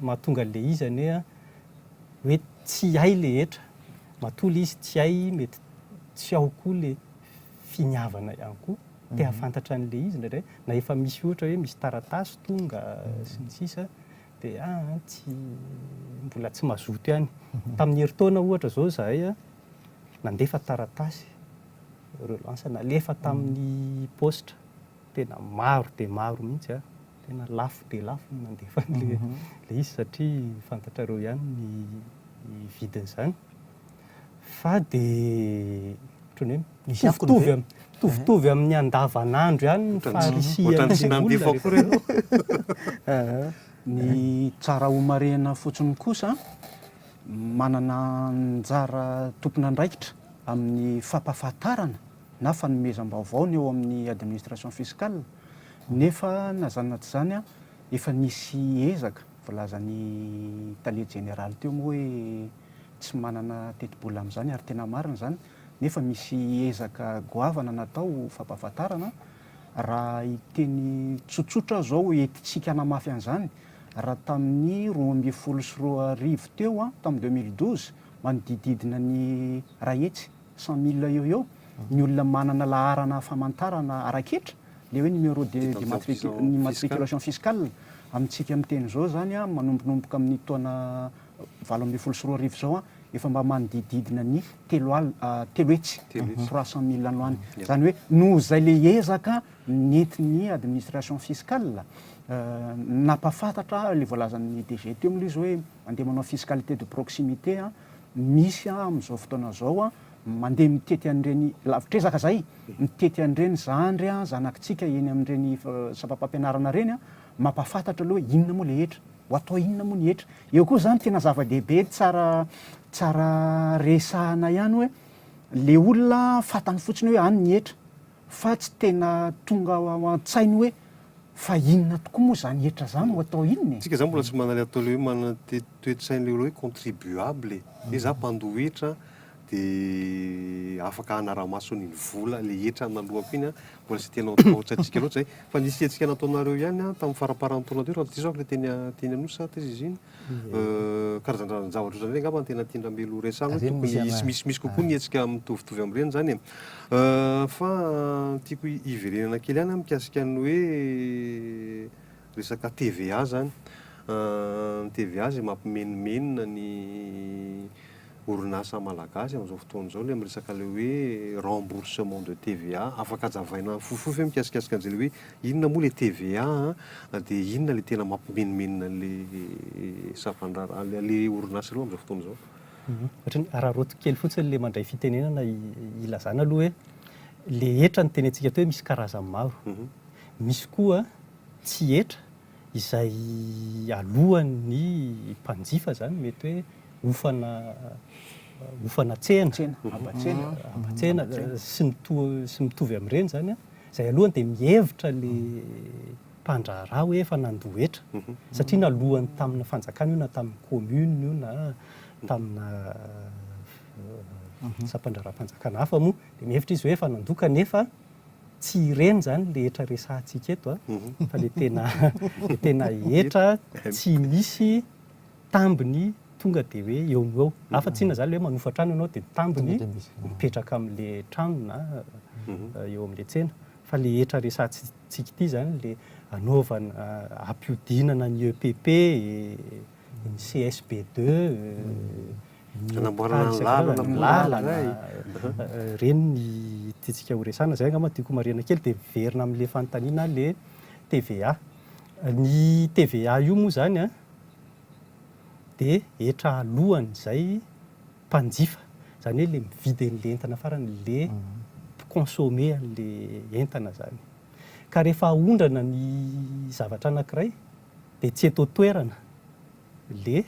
mahatonga an'ilay izy anie an. Hoe tsy hay le hetra, matoa le izy tsy hay mety tsy ao koa le finiavana ihany koa, te hahafantatra an'le izy indraindray, na efa misy ohatra hoe misy taratasy tonga sy ny sisa de aa tsy mbola tsy mazoto ihany. Tamin'ny herintaona ohatra zao zahay nandefa taratasy relance nalefa tamin'ny paositra tena maro dia maro mihitsy. Tena lafo dia lafo ny nandefa an'ilay izy satria fantatrareo ihany ny vidin'izany. Fa dia ohatran'ny hoe misy akony ve? Mitovitovy amin'ny andavanandro ihany ny farisihan'ny olona. Ohatran'ny tsy nandefa akory ianao. Ny tsara homarihina fotsiny kosa, manana anjara tompon'andraikitra amin'ny fampahafantarana. na fanomezam-baovao ny ao amin'ny administration fiscale nefa na izany na tsy izany efa nisy ezaka volazan'ny tale jeneraly teo moa hoe tsy manana tetibola amin'izany ary tena marina izany nefa misy ezaka goavana natao ho fampahafantarana raha hiteny tsotsotra aho izao entintsika hanamafy an'izany raha tamin'ny roa ambin'ny folo sy roa arivo teo an tamin'ny deux mille douze manodididina ny iray hetsy cent mille eo eo ny olona manana laharana famantarana ara-ketra, ilay hoe numéro de d'immatriculation fiscale, amintsika miteny izao izany an, manombonomboka amin'ny taona valo ambin'ny folo sy roa arivo izao an, efa mba manodidididina ny telo alina, telo hetsy, trois cent mille any ho any. Izany hoe noho izay ilay ezaka nentin'ny administration fiscale, nampahafantatra ilay voalazan'ny DG teo aloha izy hoe mandeha manao fiscalité de proximité an, misy amin'izao fotoana izao mandeha mitety an'ireny lavitr'ezaka izay, mitety an'ireny zandry zanakitsika eny amin'ireny sampam-pampianarana ireny, mampahafantatra aloha hoe inona moa ilay hetra, ho atao inona moa ny hetra. Eo koa izany tena zava-dehibe tsara tsara resahana ihany hoe ilay olona fantany fotsiny hoe any ny hetra fa tsy tena tonga ao an-tsainy hoe Fa inona tokoa moa izany hetra izany no atao inona e? Tsika izany mbola tsy manale atao le hoe manana toetsaina le hoe contribuable e. Hoe za mpandoa hetra de afaka hanara-maso ny vola le hetra naloako iny an, mbola tsy tena antsika loatra izay. Fa nisiantsika nataonareo ihany an, tamin'ny faramparan'ny taona teo raha tsy diso aho le teny teny Anosy sa taiza izy iny? karazan-drazan-javatra ohatran'ireny angamba no tena tian-dRamelo ho resahina, hoe tokony hisy misy misy kokoa ny hetsika mitovitovy amin'ireny izany e. Fa tiako hiverenana kely ihany mikasika ny hoe resaka TVA izany. Ny TVA izay mampimenomenona ny. orinasa malagasy amin'izao fotoana izao ilay miresaka ilay hoe remboursement de TVA. Afaka ajavaina fofofofy ve mikasikasika an'izay ilay hoe inona moa ilay TVA an, dia inona ilay tena mampimenomenona an'ilay sampandraharaha, an'ilay orinasa ireo amin'izao fotoana izao? Ohatran'ny hararaoty kely fotsiny ilay mandray fitenenana hilazana aloha hoe ilay hetra no tenentsika aty hoe misy karazany maro. Misy koa tsy hetra. izay alohan' ny mpanjifa izany mety hoe hofana hofana tsena, haba-tsena, haba-tsena sy ny toa sy ny mitovy amin'ireny izany an, izay alohany dia mihevitra ilay mpandraharaha hoe efa nandoa hetra satria naloany tamina fanjakana io na tamin'ny commune io na tamina sampandraharaham-panjakana hafa moa dia mihevitra izy hoe efa nandoa kanefa Tsy ireny izany ilay hetra resahantsika eto an, fa ilay tena ilay tena hetra tsy misy tambiny tonga dia hoe eo no eo. Hafa tsy inona izany ilay hoe manofa trano ianao dia ny tambiny mipetraka amin'ilay trano na eo amin'ilay tsena. Fa ilay hetra resahantsika ity izany ilay anaovana, ampihodinana ny EPP e. ny CSB deux, ny Hanamboarana ny lalana, ny lalana, ireny ny tiantsika ho resahana. Izay angamba no tiako homarihina kely dia miverina amin'ilay fanontaniana ilay TVA. Ny TVA io moa izany an, dia hetra alohan'izay mpanjifa, izany hoe ilay mividy an'ilay entana farany, ilay mpi-consommer an'ilay entana izany. Ka rehefa aondrana ny zavatra anankiray Dia tsy eto an-toerana le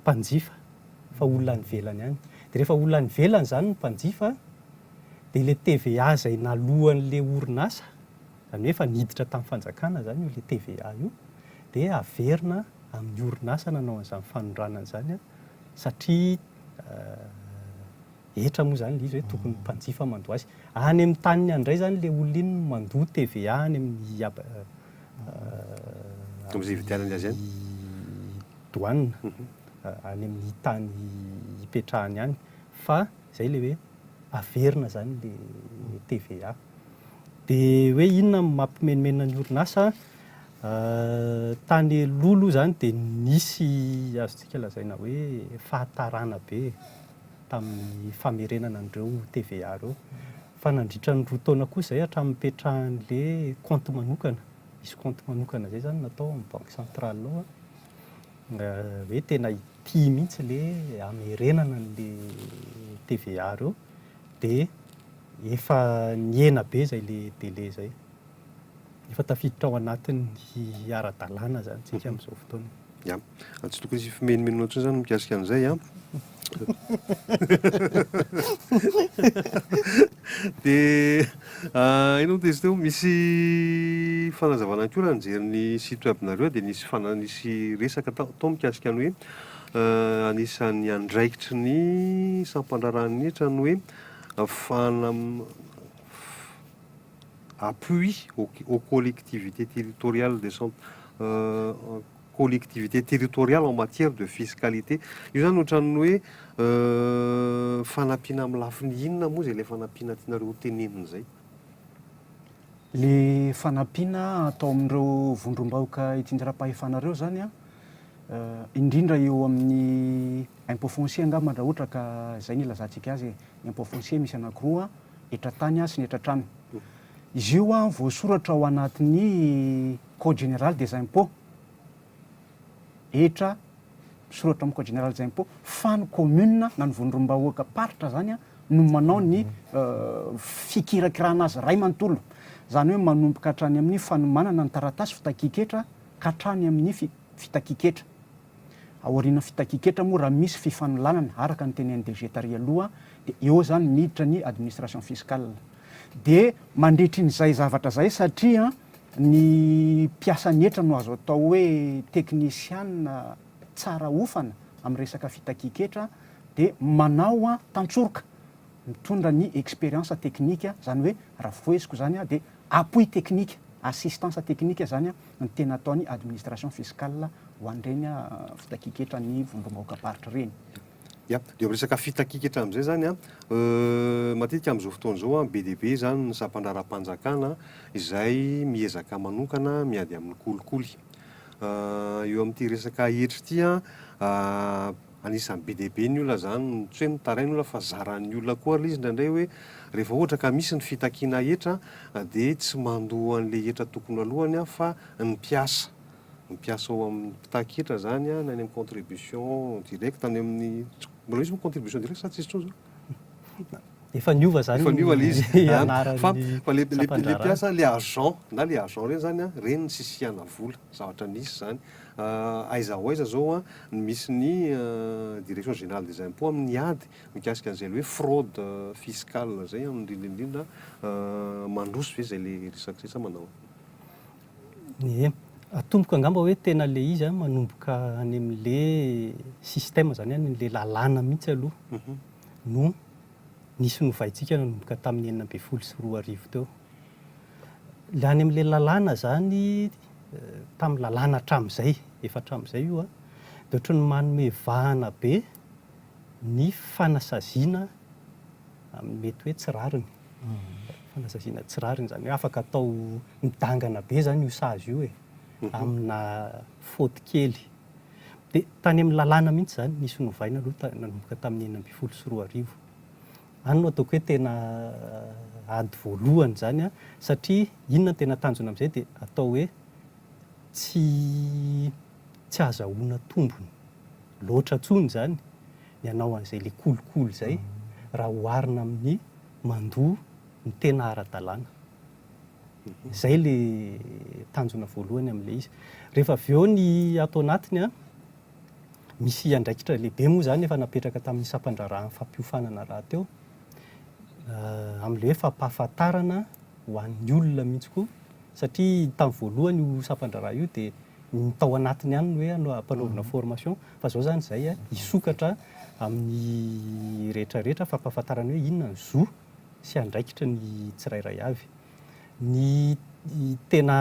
mpanjifa fa olona any ivelany any. Dia rehefa olona any ivelany izany ny mpanjifa dia ilay TVA izay naloan'ilay orinasa, izany hoe efa niditra tamin'ny fanjakana izany io ilay TVA io, dia averina amin'ny orinasa nanao an'izany fanondranana izany satria Hetra moa izany ilay izy hoe tokony mpanjifa mandoa azy. Any amin'ny taniny any indray izany ilay olona iny no mandoa TVA any amin'ny Amin'ny ividianany azy any? douane, any amin'ny tany ipetrahany any. Fa izay ilay hoe averina izany ilay TVA. Dia hoe inona no mampimenomenona ny orinasa? Tany aloha aloha izany dia nisy azontsika lazaina hoe fahatarana be e. tamin'ny famerenana an'ireo TVA ireo. Fa nandritra ny roa taona kosa izay hatramin'ny nipetrahan'ilay kaonty manokana, misy kaonty manokana izay izany natao amin'ny banky centrale ao, hoe tena hitia mihitsy ilay hamerenana an'ilay TVA ireo dia efa nihena be izay ilay délai izay. Efa tafiditra ao anatin'ny ara-dalàna izany isika amin'izao fotoana. Ya. Tsy tokony hisy fimenomenona intsony izany mikasika an'izay an. Dia inona moa dia izy teo? Misy fanazavana ihany koa raha nijery ny site web-nareo dia nisy fana- nisy resaka tao tao mikasika ny hoe anisan'ny andraikitry ny sampandraharahan'ny hetra ny hoe fana- appui aux collectivités territoriales décent-, collectivités territoriales en matière de fiscalité. Io izany ohatran'ny hoe fanampiana amin'ny lafiny inona moa izay ilay fanampiana tianareo tenenina izay? Ilay fanampiana atao amin'ireo vondrom-bahoaka itsinjaram-pahefana ireo izany an, indrindra eo amin'ny impôt foncier angamba raha ohatra ka izay no ilazantsika azy e, ny impôt foncier misy anankiroa an, etra tany sy ny etra trano. Izy io an voasoratra ao anatin'ny code général des impôts, etra misoratra amin'ny code général des impôts fa ny commune na ny vondrombahoaka paritra zany an no manao ny fikirakirana azy ray manontolo, zany hoe manomboka hatrany amin'ny fanomanana ny taratasy fitakian-ketra ka hatrany amin'ny fitakian-ketra. Aorian'ny fitakian-ketra moa raha misy fifanolanana araka ny tenenin'ny DG tary aloha dia eo izany miditra ny administration fiscale. Dia mandritra in'izay zavatra izay satria ny mpiasa ny hetra no azo atao hoe teknisiana tsara hofana amin'ny resaka fitakian-ketra dia manao tantsoroka mitondra ny expérience technique izany hoe raha foheziko izany dia appui technique, assistance technique izany ny tena ataony administration fiscale ho an'ireny fitakiaketra ny vondrom-bahoakam-paritra ireny. Ya, dia amin'ny resaka fitakiaketra amin'izay izany an, matetika amin'izao fotoana izao an, be dia be izany ny sampandraharapanjakana izay miezaka manokana miady amin'ny kolikoly. Eo amin'ity resaka hetra ity an, Anisan'ny be dia be ny olona izany, tsy hoe mitaraina olona fa zaran'ny olona koa ary ilay izy indraindray hoe rehefa ohatra ka misy ny fitakiana hetra dia tsy mandoa an'ilay hetra tokony ho alohany aho fa ny mpiasa, ny mpiasa ao amin'ny mpitaky hetra izany na any amin'ny contribution directe, any amin'ny, mbola misy moa contribution directe sa tsisy intsony izao? Efa niova izany ny anaran'ny sampandraharaha. Efa niova ilay izy. Fa ilay mpiasa, ilay agent, na ilay agent ireny izany, ireny no nisisihana vola. Zavatra nisy izany. Aiza ho aiza izao no misy ny Direction Générale des Impôts amin'ny ady mikasika an'izay ilay hoe fraude fiscale izay, indrindra indrindra mandroso ve izay ilay resaka izay sa manao ahoana? Ie, atomoko angamba hoe tena le izy an, manomboka any amin' le système izany an, ilay lalàna mihitsy aloha no nisy novaintsika nanomboka tamin'ny enina ambin'ny folo sy roa arivo teo. Ilay any amin'ilay lalàna izany, tamin'ny lalàna hatramin'izay, efa hatramin'izay io an, dia ohatran'ny manome vahana be ny fanasaziana amin'ny mety hoe tsy rariny, fanasaziana tsy rariny, izany hoe afaka atao midangana be izany io sazy io e, amina faute kely. Dia tany amin'ny lalàna mihitsy izany nisy novaina aloha nanomboka tamin'ny enina ambin'ny folo sy roa arivo. Any no ataoko hoe tena ady voalohany izany satria inona no tena tanjona amin'izay dia atao hoe tsy tsy ahazahoana tombony loatra intsony izany. ny hanao an'izay le kolikoly izay raha oharina amin'ny mandoa ny tena ara-dalàna. Izay le tanjona voalohany amin'ilay izy. Rehefa avy eo ny ato anatiny an, misy andraikitra lehibe moa izany efa napetraka tamin'ny sampan-draharahan'ny fampiofanana rahateo, amin'ilay hoe fampahafantarana ho an'ny olona mihitsy koa, satria tamin'ny voalohany io sampan-draharaha io dia, ny tao anatiny ihany no hoe ampanaovina formation fa izao izany izay hisokatra amin'ny rehetra rehetra fampahafantarana hoe inona ny zo sy andraikitry ny tsirairay avy. Ny tena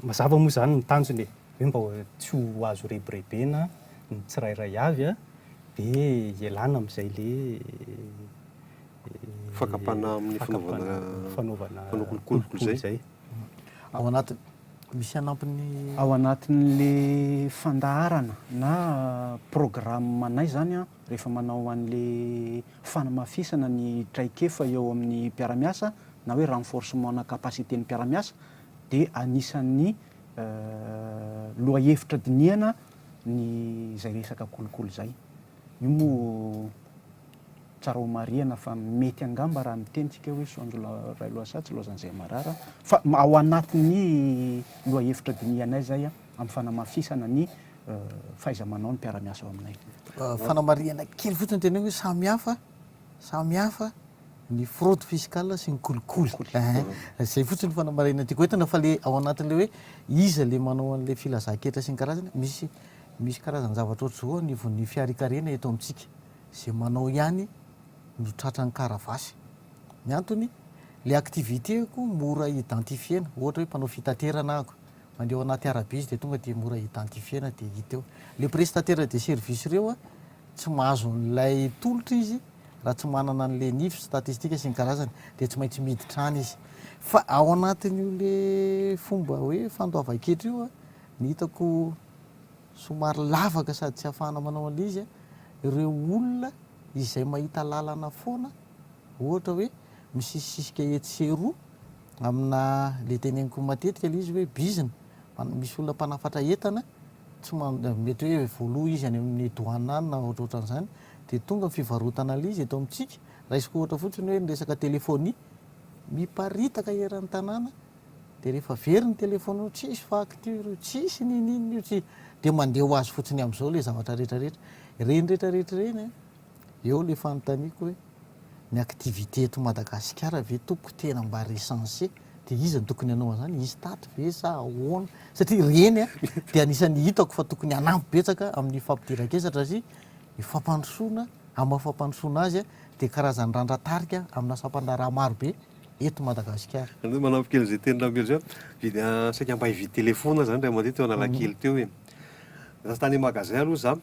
mazava moa izany ny tanjony e, hoe mba tsy ho azo rebirebena ny tsirairay avy a, dia hialana amin'izay ilay fakam-panahy amin'ny fanaovana kolikoly izay. Ao anatin'ny. Misy hanampiny. Ao anatin'le fandaharana na programanay zany an, rehefa manao an'le fanamafisana ny traikefa eo amin'ny mpiara-miasa na hoe renforcement na capacité ny mpiara-miasa dia anisan'ny lohahevitra dinihana ny zay resaka kolikoly zay. Io moa. Tsara ho marihana fa mety angamba raha miteny tsika hoe Soanjo Railohasaha tsy Laozan'izay Marara fa ao anatin'ny lohahevitra dinihanay izay amin'ny fanamafisana ny fahaiza-manao ny mpiara-miasa ao aminay. Fanamarihana kely fotsiny teneniko hoe samy hafa, samy hafa ny fraude fiscale sy ny kolikoly. Kolikoly. Zay fotsiny fanamarihana tiako entina fa le ao anatin'le hoe iza le manao an'le filazanketra sy ny karazany misy misy karazan-javatra ohatr'zao anivon'ny fiharikarena eto amintsika. Ze manao ihany no tratran'ny karavasy. Ny antony, le activité-ko mora identifier-na. Ohatra hoe mpanao fitaterana ahako, mandeha ao anaty arabe izy dia tonga dia mora identifier-na dia hita eo. Le prestataire de service reo a, tsy mahazo an'ilay tolotra izy raha tsy manana an'le nifs, statistique sy ny karazany. Dia tsy maintsy miditra any izy. Fa ao anatin'io le fomba hoe fandoavan-ketra io a, ny hitako, somary lavaka sady tsy afahana manao an'ilay izy ireo olona izay mahita lalana foana ohatra hoe misisisika etsy sy eroa amina ilay teneniko matetika ilay izy hoe bizina misy olona mpanafatra entana tsy mety hoe voaloha izy any amin'ny douane any na ohatrohatran'izany dia tonga fivarotana ilay izy eto amintsika raisiko ohatra fotsiny hoe ny resaka telefonia miparitaka eran'ny tanàna Dia rehefa very ny telephone io tsisy facture io tsisy ninin io tsy dia mandeha ho azy fotsiny amzao le zavatra rehetra rehetra ireny rehetra rehetra ireny a! eo le fanontaniako hoe ny activité eto Madagasikara ve tompoko tena mba recenser dia iza no tokony hanao anzany ISTAT ve sa ahoana satria ireny a! dia anisany hitako fa tokony hanampy betsaka amin'ny fampidiran-kesatra sy ny fampandrosoana amin'ny maha fampandrosoana azy a! dia karazany randra tarika amina sampandraharaha maro be eto Madagasikara. Zany hoe manampy kely izay tenin'i Rabe zay, vidy saika mba hividy telephone zany ray aman-dreny teo Analakely teo e. Za tany magasin aloha za,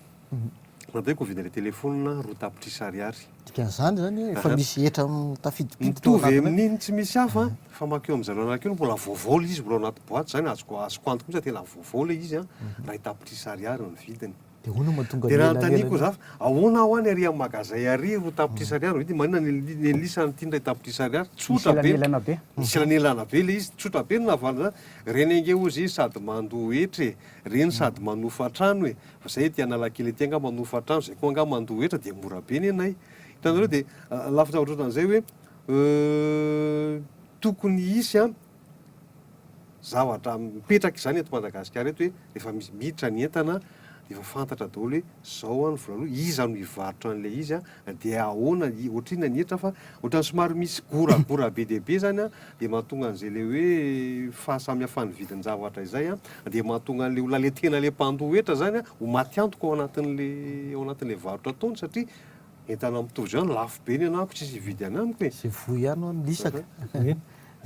nataoko hividy an'ilay telephone roa tapitrisa ariary. Dikan'izany zany hoe efa misy hetra tafiditpiditra tao anatiny. Mitovy amin'iny tsy misy hafa fa mankeo amin'i zareo Analakely mbola vaovao ilay izy mbola ao anaty boite zany azoko azoko antoka mihitsy fa tena vaovao ilay izy a, ray tapitrisa ariary ny vidiny. Dia ahoana no mahatonga an'i Dia raha Lela notaniako ela ela? za, ahoana aho any ary amin'ny magazay ary ro tapitrisa ariary no vidiny, maninona ny ny Nelisa an'ity indray tapitrisa ariary? Nisy Tsotra be. elanelana be. Nisy elanelana be ilay izy, tsotra be ny nahavaliny za. Ireny ange hozy izy sady mandoa hetra e, ireny sady manofa trano e, fa izay ety Analakely ety angaha manofa trano, izay koa angaha mandoa hetra dia mora be nenay. Hitanareo dia ah, lafin-javatra ohatran'izay hoe euh, tokony hisy an, zavatra mipetraka izany eto Madagasikara eto hoe rehefa misy miditra ny entana dia efa fantatra daholo hoe izao an ny vola aloa, iza no hivarotra an'ilay izy an, dia ahoana, ohatra inona ny hetra fa ohatran'ny somary misy goragora be dia be izany an, dia mahatonga an'izay ilay hoe fahasamihafan'ny vidin-javatra izay an, dia mahatonga an'ilay olona ilay tena ilay mpandoa hetra izany an ho maty antoka ao anatin'ilay, ao anatin'ilay varotra ataony satria entana mitovy izany, lafo be ny anahako, tsisy hividy anamiko e! Izay voa ihany hono ny isaka.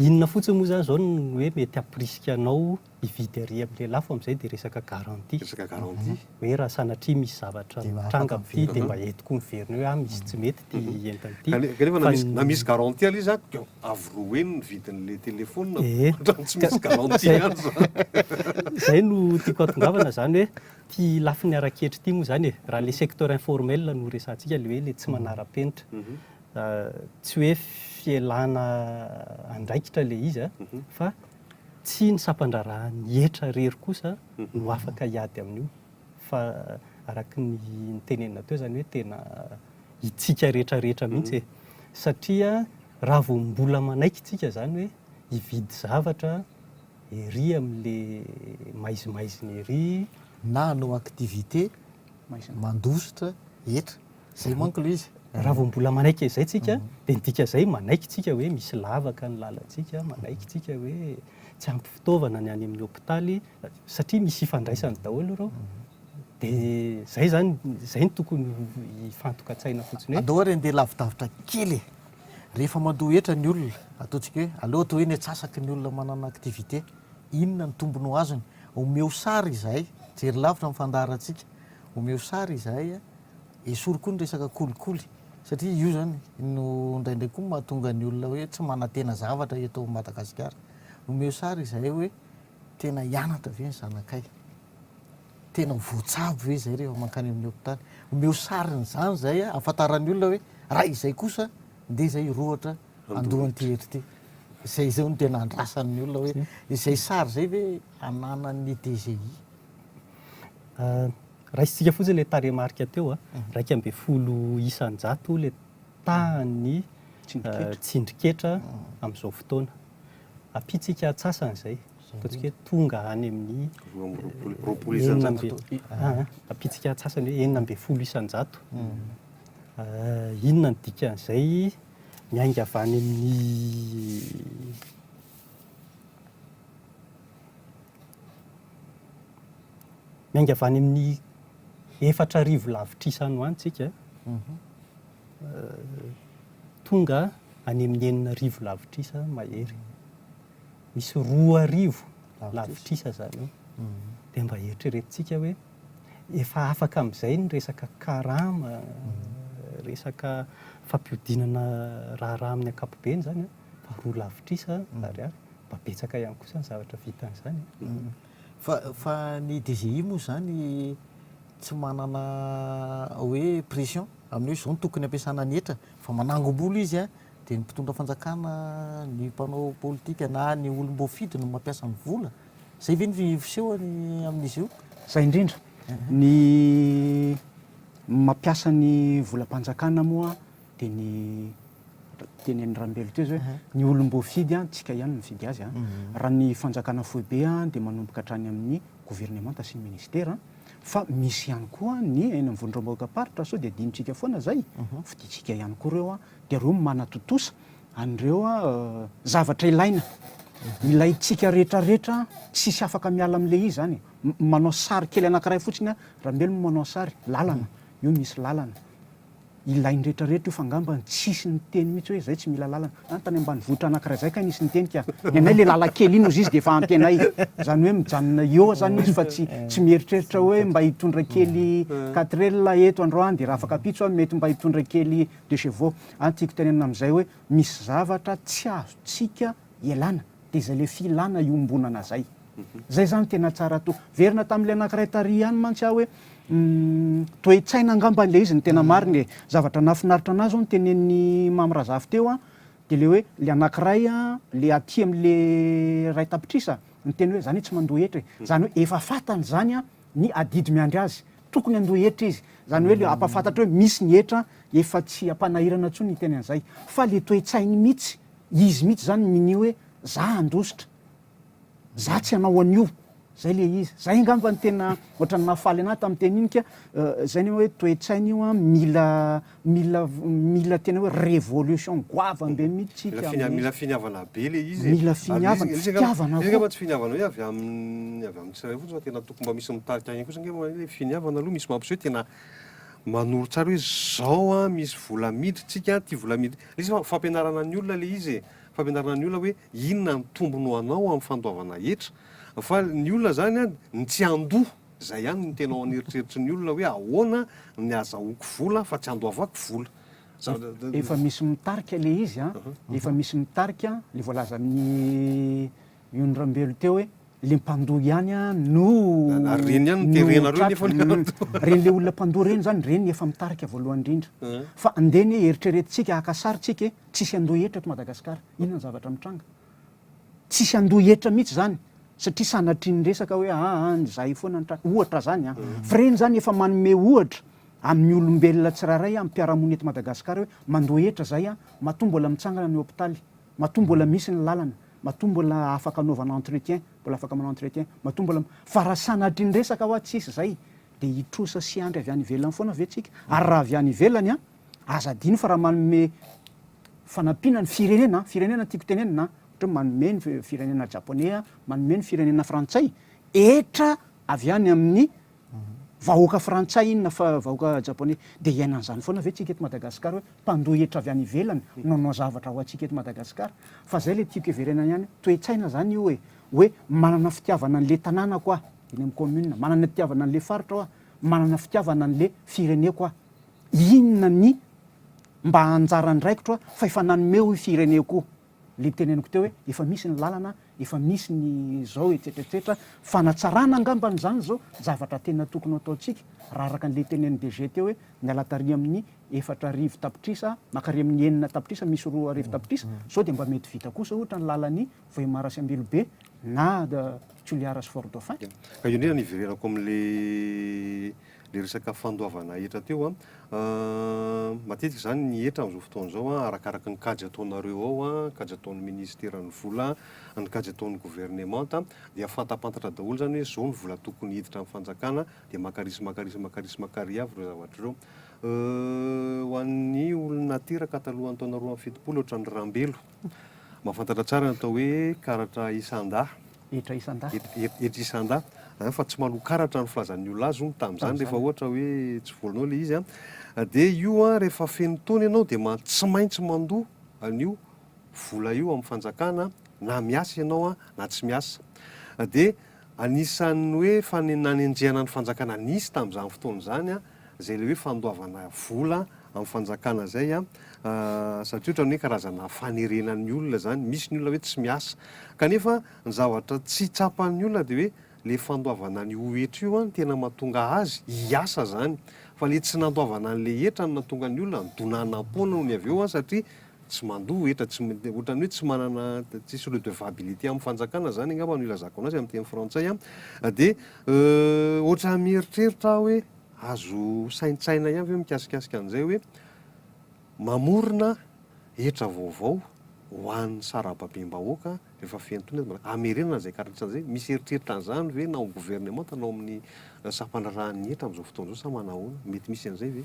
Inona fotsiny moa izany izao no hoe mety hampirisika anao hividy ery amin'ilay lafo amin'izay dia resaka garantie. Resaka garantie. Hoe raha sanatria misy zavatra mitranga amin'ity dia mba eto koa miverina eo hoe ah misy tsy mety ity entana ity. Ka- Kanefa na misy, na misy garantie aloha izany dia avy roen ny vidin'ilay telephone Eh. hatramin'ny tsy misy garantie Zay- ihany izany. Izay no tiako hahatongavana izany hoe ity lafiny ara-ketra ity moa izany e, raha ilay secteur informel no resahantsika ilay hoe ilay tsy manara-penitra. Tsy hoe fialana andraikitra ilay izy, fa tsy ny sampan-draharahan'ny hetra irery kosa no afaka hiady amin'io, fa araka ny notenenina teo izany hoe tena itsika rehetrarehetra mihitsy e. Satria raha vao mbola manaiky isika izany hoe hividy zavatra ery amin'ilay maizimaizina ery, na hanao activité mandositra hetra, Zay manko ilay izy. Raha vao mbola manaiky an'izay tsika dia ny dika izay manaiky tsika hoe misy lavaka ny lalantsika, manaiky tsika hoe tsy ampy fitaovana ny any amin'ny hopitaly satria misy ifandraisany daholo ireo. Dia izay izany, izay no tokony hifantokan-tsaina fotsiny hoe. Andao ary handeha lavidavitra kely e! Rehefa mandoa hetra ny olona, ataontsika hoe aleo atao hoe ny antsasaky ny olona manana activité, inona ny tombony ho azony? Omeo sary izahay, jery lavitra ny fandaharantsika, omeo sary izahay Esory koa ny resaka kolikoly satria io zany no indraindray koa mahatonga ny olona hoe tsy manantena zavatra eto Madagasikara. Omeo sary izahay hoe tena hianatra ve ny zanakay? Tena ho voatsabo ve izay rehefa mankany amin'ny hopitaly? Omeo sarin'izany izay ahafantaran'ny olona hoe raha izay kosa ndeha izay hirohotra andohan'ity hetra ity. Izay izao no tena andrasan'ny olona hoe izay sary izay ve ananan'ny DGI. Raisintsika fotsiny ilay tarehimarika teo, iraika ambin'ny folo isan-jato ilay tahan'ny tsindrin-ketra amin'izao fotoana. Ampiantsika antsasany izay, ataontsika hoe tonga any amin'ny enina ambin'ny, ampiantsika antsasany hoe enina ambin'ny folo isan-jato. Inona no dikan'izay? Miainga avy any amin'ny Miainga avy any amin'ny efatra arivo lavitrisa any ho any tsika, tonga any amin'ny enina arivo lavitrisa mahery. Misy roa arivo lavitrisa izany eo. Dia mba eritreretintsika hoe efa afaka amin'izay ny resaka karama, resaka fampihodinana raharaha amin'ny ankapobeny izany an! mba roa lavitrisa ary mba betsaka ihany kosa ny zavatra vitan'izany e. Fa ny DGI moa izany tsy manana hoe pression amin'ny hoe izao no tokony hampiasana ny hetra fa manangom-bolo izy dia ny mpitondra fanjakana, ny mpanao politika na ny olom-boafidy no mampiasa ny vola? Izay ve ny fiseho amin'izy io? Izay indrindra. Ny mampiasa ny volam-panjakana moa. dia ny teny an'i Rambelo teo izao hoe ny olom-boafidy an, tsika ihany no mifidy azy an, raha ny fanjakana foibe an dia manomboka hatrany amin'ny governemanta sy ny ministera fa misy ihany koa ny eny amin'ny vondrom-bahoakam-paritra sao dia adinontsika foana izay, fidintsika ihany koa ireo an, dia ireo no manatontosa an'ireo zavatra ilaina, ilaintsika rehetrarehetra an, tsisy afaka miala amin'ilay izy izany e, manao sary kely anankiray fotsiny an, Rambelo moa manao sary, lalana, io misy lalana, Ilain'ny rehetra rehetra io fa angamba tsisy niteny mihitsy hoe zay tsy mila lalana. Any tany ambanivohitra anankiray zay kay nisy niteny ka. Ny anay le lalan-kely iny ozy izy de efa ampy anay. Zany hoe mijanona eo zany izy fa tsy tsy mieritreritra hoe mba hitondra kely quatrel eto androany de raha afaka ampitso aho mety mba hitondra kely deux chevaux. Any tiako tenenina amzay hoe misy zavatra tsy azontsika ialana de zay le filana iombonana zay. Zay zany tena tsara to. Verina tamin'ilay anankiray tary ihany mantsy aho hoe toe-tsaina angamba ilay izy no tena marina e. Zavatra nahafinaritra anahy zao notenenin'i Mamy Razafy teo an, dia ilay hoe ilay anankiray an, ilay aty amin'ilay iray tapitrisa niteny hoe zany tsy mandoa hetra e. Zany hoe efa fantany zany an ny adidy miandry azy, tokony handoa hetra izy. Zany hoe ilay hampafantatra hoe misy ny hetra efa tsy ampanahirana intsony hiteny an'izay. Fa ilay toe-tsainy mihitsy, izy mihitsy zany minia hoe za handositra. Za tsy hanao an'io. Zay le izy. Zay angamba ny tena ohatran'ny nahafaly anahy tamin'ny teny iny ka zay ny hoe toe-tsaina io an, mila mila mila tena hoe révolution goavana be mihitsy tsika Mila finiavana, mila finiavana be le izy e. Mila finiavana, fitiavana koa. Izy angamba tsy finiavana hoe avy amin'ny avy amin'ny tsirairay fotsiny fa tena tokony mba misy mitarika ihany koa satria angamba hoe finiavana aloha misy mampiseho tena manoro tsara hoe zao an, misy vola miditra tsika an, ty vola miditra. Izy fa fampianarana ny olona le izy e. fampianarana ny olona hoe inona ny tombony ho anao amin'ny fandoavana hetra fa ny olona zany an ny tsy handoa zay ihany no tena ao an'eritreritry ny olona hoe ahoana ny azahoako vola fa tsy andoavako vola Za- Efa misy mitarika le izy a, efa misy mitarika le voalazan'i Yony Rambelo teo hoe le mpandoa ihany a no Na- ary reny ihany no terena reo nefa ny Mm. mpandoa. Reny le olona mpandoa reny zany, reny efa mitarika voalohany indrindra. Fa andeha anie eritreretintsika, haka sary tsika e. Tsisy handoa hetra eto Madagasikara. Inona ny zavatra mitranga? Tsisy handoa hetra mihitsy izany satria sanatrian'ny resaka hoe aa an izahay foana ny tratra. Ohatra izany an. Fa ireny izany efa manome ohatra amin'ny olombelona tsirairay amin'ny mpiara-monina eto Madagasikara hoe mandoa hetra izahay an, matoa mbola mitsangana ny hopitaly, matoa mbola misy ny lalana, matoa mbola afaka anaovana entretien, mbola afaka manao entretien, matoa mbola. Fa raha sanatrian'ny resaka hoa tsisy izay dia hitrosa sy hiandry avy any ivelany foana ve tsika? Ary raha avy any ivelany an? Aza adino fa raha manome fanampiana ny firenena an, firenena no tiako tenenina an, ohatra hoe manome ny firenena Japoney an, manome ny firenena Frantsay, hetra avy any amin'ny vahoaka Frantsay iny na vahoaka Japoney. Dia hiaina an'izany foana ve tsika eto Madagasikara hoe mpandoa hetra avy any ivelany no hanao zavatra ho antsika eto Madagasikara? Fa izay ilay tiako heverena ihany, toe-tsaina izany io e! Hoe manana fitiavana an'ilay tanànako aho, eny amin'ny commune, manana fitiavana an'ilay faritro aho, manana fitiavana an'ilay fireneko aho. Inona ny mba anjara andraikitro fa efa nanome hoy fireneko le niteneniko teo hoe efa misy ny lalana efa misy ny zao etsetra etsetra fanatsarana angambany zany zao zavatra tena tokony ataontsika raha araka anle tenen'ny DG teo hoe miala tary amin'ny efatra arivo tapitrisa makary amin'ny enina tapitrisa misy roa arivo tapitrisa zao de mba mety vita kosa ohatra ny lalan'i Vohemar sy Ambilobe na Toliara sy Fort Dauphin. Ka io ndray no hiverenako amle le resaka fandoavana hetra teo an, matetika izany ny hetra amin'izao fotoana izao an, arakaraka ny kajy ataonareo ao an, kajy ataon'ny ministeran'ny vola an, ny kajy ataon'ny governemanta an, dia fantampantatra daholo izany hoe izao ny vola tokony hiditra amin'ny fanjakana dia maka risy maka risy maka risy maka ry avy ireo zavatra ireo. Ho an'ny olona teraka talohan'ny taona roa amby fitopolo ohatran'ny rambelo, mahafantatra tsara ny atao hoe karatra isan-dahy, hetra isan-dahy. Hetra isan-dahy an, fa tsy maloa karatra ny filazan'ny olona azy hono tamin'izany rehefa ohatra hoe tsy volanao ilay izy an. Dia io an, rehefa feno taona ianao dia tsy maintsy mandoa an'io vola io amin'ny fanjakana na miasa ianao an, na tsy miasa. Dia anisan'ny hoe nanenjehana ny fanjakana nisy tamin'izany fotoana izany an, Zay le hoe fandoavana vola am fanjakana zay a, satria otrany hoe karazana fanerena ny olona zany, misy ny olona hoe tsy miasa, kanefa ny zavatra tsy tsapan ny olona de hoe le fandoavana ny ho hetra io an no tena matonga azy hiasa zany, fa le tsy nandoavana anle hetra no natonga ny olona nidonanam-poana ony avy eo an satria Tsy mandoa hetra, tsy, ohatran'ny hoe tsy manana, tsisy redevabilité amin'ny fanjakana zany angamba no ilazako anazy amin'ny teny frantsay an, dia euh ohatran'ny mieritreritra aho hoe azo saintsaina ihany ve mikasikasika an'izay hoe mamorona hetra vaovao ho an'ny sarababem-bahoaka rehefa fentona eto, hamerenana izay karatra izay, misy eritreritra an'izany ve na ao amin'ny governemanta na ao amin'ny sampandraharahan'ny hetra amin'izao fotoana izao sa manahoana? Mety misy an'izay ve?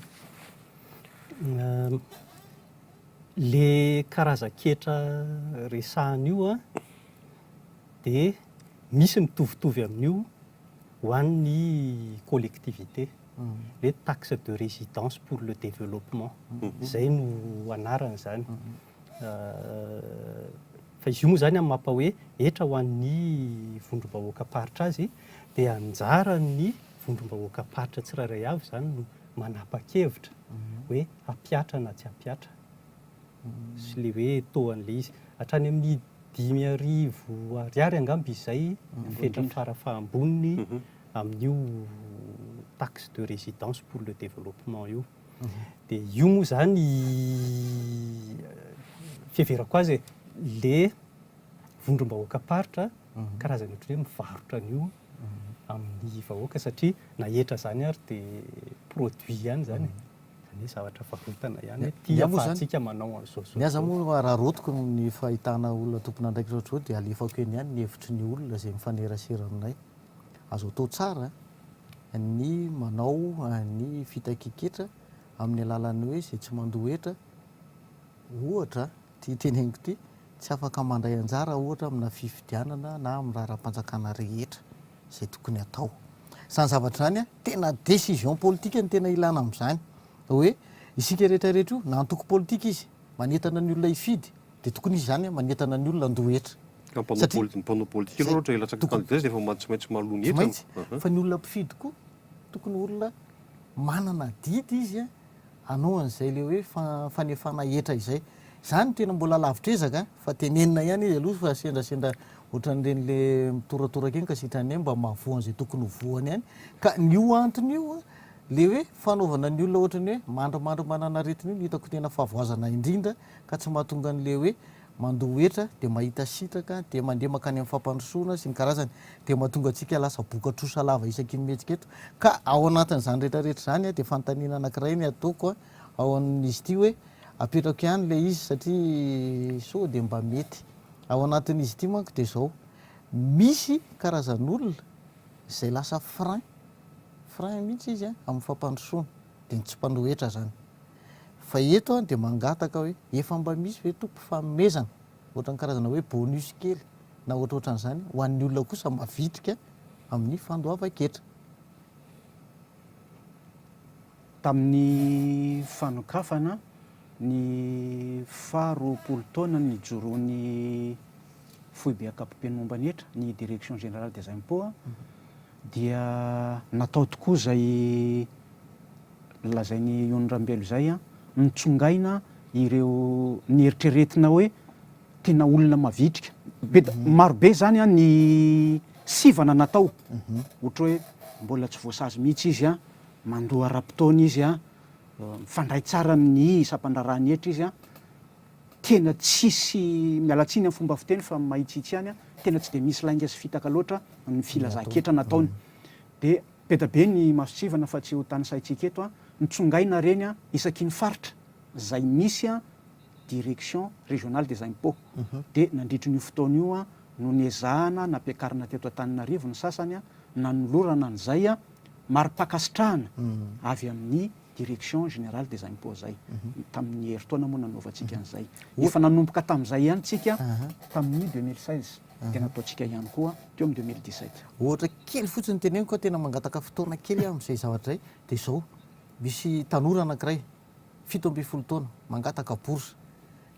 Le karazan-ketra resahana io an, dia misy mitovitovy amin'io ho an'ny collectivité, hoe taxe de résidence pour le développement, izay no anaran'izany. Fa izy io moa izany amin'ny maha hoe hetra ho an'ny vondrom-bahoakam-paritra azy, dia anjaran'ny vondrom-bahoakam-paritra tsirairay avy izany no manapa-kevitra hoe. hampiatra na tsy hampiatra sy ilay hoe taux an'ilay izy. Hatrany amin'ny dimy arivo ariary angamba izay ny fetra fara-fahamboniny amin'io taxe de résidence pour le développement io. Dia io moa izany, fiheverako azy e, ilay vondrom-bahoakam-paritra karazany ohatran'ny hoe mivarotra an'io amin'ny vahoaka satria na hetra izany ary dia produit ihany izany e. Anie zavatra varotana ihany hoe ty afahantsika manao an'izao izao. Ny ahy izany moa raha rotiko ny fahitana olona tompon'andraikitra ohatr'izao dia alefako eny ihany ny hevitry ny olona izay mifanerasera aminay. Azo atao tsara ny manao ny fitakian-ketra amin'ny alalan'ny hoe izay tsy mandoa hetra ohatra ity teneniko ity, tsy afaka mandray anjara ohatra amina fifidianana na amin'ny raharaham-panjakana rehetra. izay tokony atao. Izany zavatra izany a, tena décision politique no tena ilana amin'izany. Hoe isika rehetra rehetra io, na antoko politika izy, manentana ny olona hifidy, dia tokony izy izany a, manentana ny olona handoa hetra. Ka mpanao Satria- poli- mpanao politika Zay- aloha ohatra hilatsaka tokony- candidat izy dia efa ma- tsy maintsy maloha ny Tsy hetra. maintsy. Ahan. Fa ny olona mpifidy koa, tokony olona manana adidy izy a. hanao an'izay le hoe fanefana hetra izay. Izany tena mbola lavitr'ezaka an! fa tenenina ihany izy aloha fa sendrasendra ohatran'ireny le mitoratoraka eny ka sitrany hoe mba mahavoa an'izay tokony ho voany ihany. Ka ny io antony io an, le hoe fanaovana ny olona ohatran'ny hoe mandrimandry manana aretina io no hitako tena fahavoazana indrindra ka tsy mahatonga an'le hoe mandoa hetra dia mahita sitraka dia mandeha mankany amin'ny fampandrosoana sy ny karazany dia mahatonga antsika lasa boka trosa lava isaky ny mihetsika eto ka ao anatin'izany rehetra rehetra izany dia fanontaniana anankiray ny ataoko ao amin'izy ity hoe apetrako ihany ilay izy satria sao dia mba mety ao anatin'izy ity manko dia izao misy karazan'olona izay lasa frein frein mihitsy izy amin'ny fampandrosoana dia ny tsy mpandoa hetra izany Fa eto aho dia mangataka hoe efa mba misy ve Tompo fanomezana, ohatran'ny karazana hoe bonus kely na ohatrohatran'izany ho an'ny olona kosa mavitrika amin'ny fandoavan-ketra. Tamin'ny fanokafana ny faha roapolo taona nijoroan'ny Foibe Ankapobeny Momba ny Hetra, ny Direction Générale des Impôts, Dia natao tokoa izay nolazain'i Yony Rambelo izay, notsongaina ireo nieritreretina hoe tena olona mavitrika. Be, maro be izany ny sivana natao. Ohatra hoe mbola tsy voasazy mihitsy izy, mandoa ara-potoana izy, mifandray tsara amin'ny sampandraharahan'ny hetra izy. Tena tsisy, miala tsiny amin'ny fomba fiteny fa mahitsitsy ihany aho, tena tsy dia misy lainga sy fitaka loatra ny filazan-ketra nataony. Dia beda be ny masontsivana fa tsy ho tanisaintsika eto an, nitsongaina reny an, isaky ny faritra izay misy an direction régionale des impots. Dia nandritry an'io fotoana io an no niezahana nampiakarina teto Antananarivo ny sasany an, nanolorana an'izay an mari-pankasitrahana avy amin'ny Direction générale des impôts zay. Tamin'ny herintaona moa nanaovantsika an'izay. Efa nanomboka tamin'izay ihany tsika tamin'ny 2016 dia nataontsika ihany koa teo amin'ny 2017. Ohatra kely fotsiny teneniko fa tena mangataka fotoana kely aho amin'izay zavatra izay dia izao, misy tanora anankiray fito ambin'ny folo taona mangataka bourse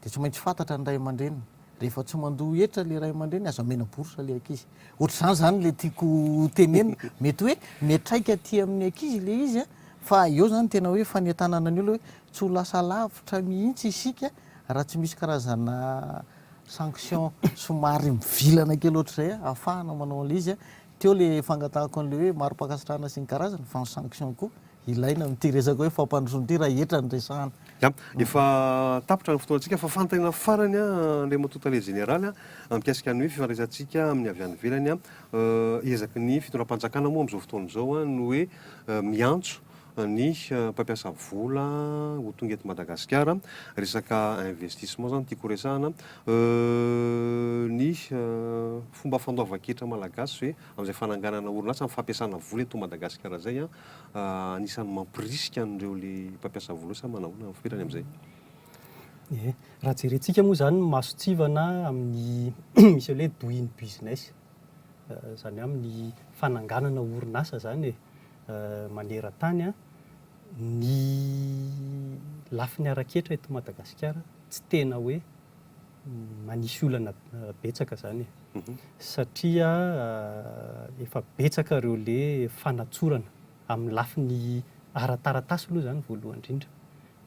dia tsy maintsy fantatra ny ray aman-dreniny, rehefa tsy mandoa hetra ilay ray aman-dreniny aza omena bourse ilay ankizy. Ohatr'izany izany ilay tiako ho tenenina. Mety hoe miantraika aty amin'ny ankizy ilay izy fa eo izany tena hoe fanentanana ny olona hoe tsy ho lasa lavitra mihitsy isika raha tsy misy karazana sanction somary mivilana kely ohatr'izay ahafahana manao an'ilay izy. Teo ilay fangatahako an'ilay hoe mari-pankasitrahana sy ny karazany fa ny sanction koa Ilaina amin'ity resaka hoe fampandrosoana ity raha hetra ny resahana. Ya, efa tapitra ny fotoantsika fa fanontaniana farany Andriamatoa Tale Jeneraly mikasika ny hoe fifandraisantsika amin'ny avy any ivelany. Ezaky ny fitondram-panjakana moa amin'izao fotoana izao ny hoe miantso ny mpampiasa vola ho tonga eto Madagasikara. Resaka investissement izany no tiako horesahana. Ny fomba fandoavan-ketra malagasy ve amin'izay fananganana orinasa, amin'ny fampiasana vola eto Madagasikara izay, anisan'ny mampirisika an'ireo ilay mpampiasa vola sa manao ahoana ferany amin'izay? Ie, raha jerentsika moa izany ny mason-tsivana amin'ny misy an'ilay hoe doing business, izany hoe amin'ny fananganana orinasa izany e, maneran-tany, ny lafiny ara-ketra eto Madagasikara tsy tena hoe. manisy olana betsaka zany e, satria efa betsaka ireo le fanatsorana amin'ny lafiny ara-taratasy aloha zany voalohany indrindra,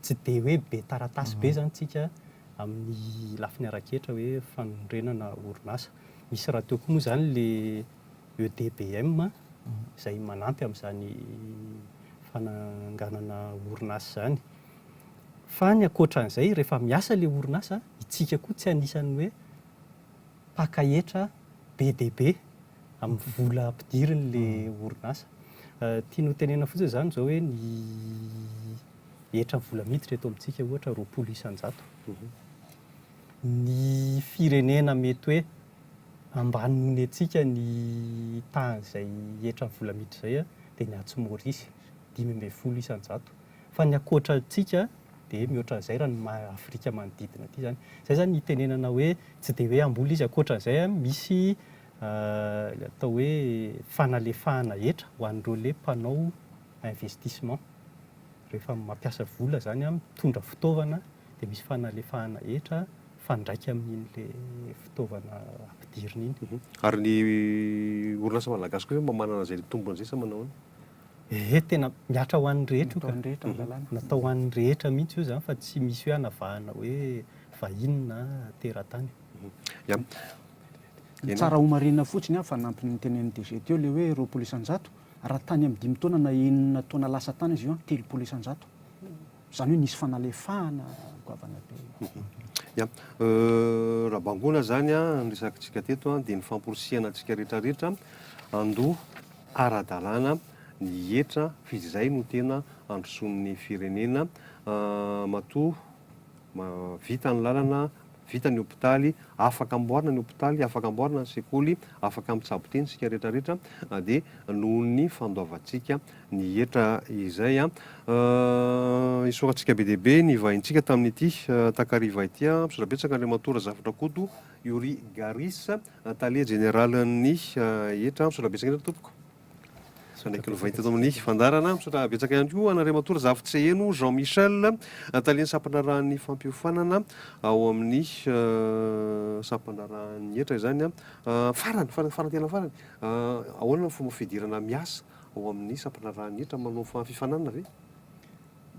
tsy dia hoe be taratasy be zany tsika amin'ny lafiny ara-ketra hoe fanorenana orinasa, misy raha teo koa moa zany le EDBM izay manampy amin'izany fananganana orinasa izany. Fa ny ankoatran'izay, rehefa miasa ilay orinasa, isika koa tsy anisan'ny hoe mpaka hetra be dia be amin'ny vola ampidirin'ilay orinasa. Tiany hotenenana fotsiny izany izao hoe ny hetra vola miditra eto amintsika ohatra roapolo isan-jato. Ny firenena mety hoe ambany noho ny antsika ny tahan'izay hetra vola miditra izay dia ny atsy Maorisy, dimy ambin'ny folo isan-jato. fa ny ankoatra antsika dia mihoatra an'izay raha ny maha Afrika manodidina aty izany. Izay izany hitenenana hoe tsy dia hoe hamboly izy ankoatra an'izay an, misy ilay atao hoe fanalefahana hetra ho an'ireo le mpanao investissement. Rehefa mampiasa vola izany an, mitondra fitaovana dia misy fanalefahana hetra mifandraika amin'iny le fitaovana ampidirina iny. Ary ny orinasa malagasy kosa moa mba manana izay tombony izay sa manao ahoana? Ee, tena mihatra ho an'ny rehetra io ka. Natao ho an'ny rehetra mihitsy io izany fa tsy misy hoe hanavahana hoe vahiny na teratany. Ya. Ny tsara homarihina fotsiny an, fanampin'ny notenenin'ny DG teo ilay hoe roapolo isan-jato, raha tany amin'ny dimy taona na enina taona lasa tany izy io an, telopolo isan-jato. Izany hoe nisy fanalefahana goavana be. Ya. Raha bangoina izany an, ny resakantsika teto an, dia ny famporisihana antsika rehetra rehetra an, handoa ara-dalàna ny hetra f'izy izay no tena androsoan'ny firenena matoa vita ny lalana, vita ny hopitaly, afaka amboarina ny hopitaly, afaka amboarina ny sekoly, afaka mitsabo teny isika rehetra rehetra dia nohon'ny fandoavantsika ny hetra izay. Isaorantsika be dia be ny vahintsika tamin'ity takariva ity, misaotra betsaka Andriamatoa Razafindrakoto Youri Garis. Tale jeneralin'ny hetra, misaotra betsaka indrindra tompoko izay naiky novainy teto amin'ny fandaharana. Misaotra betsaka ihany koa an'Andriamatoa Razafintsy Heno Jean Michel, talen'ny sampandraharahan'ny fampiofanana ao amin'ny sampandraharahan'ny hetra izany. Farany, farany, farany tena farany, ahoana ny fomba fidirana miasa ao amin'ny sampandraharahan'ny hetra manao fifaninanana ve?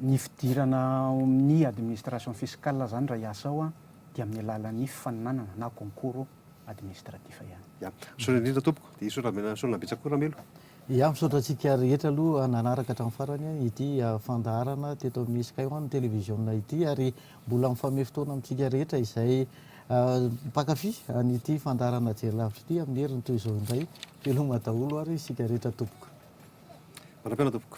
Ny fidirana ao amin'ny administration fiscale izany raha hiasa ao dia amin'ny alalan'ny fifaninanana na concours administratif ihany. Ya. Misaotra indrindra tompoko. Dia hisaotra Rabe Rasoanina Rabetsa koa Ramelo. Ya. Misaotra antsika rehetra aloha nanaraka hatramin'ny farany ity fandaharana teto amin'ny Sky One Télévision ity ary mbola mifamey fotoana amintsika rehetra izay mpankafy an'ity fandaharana jery lavitra ity amin'ny heriny toy izao indray. Veloma daholo ary isika rehetra tompoko. Mandra-piaina tompoko.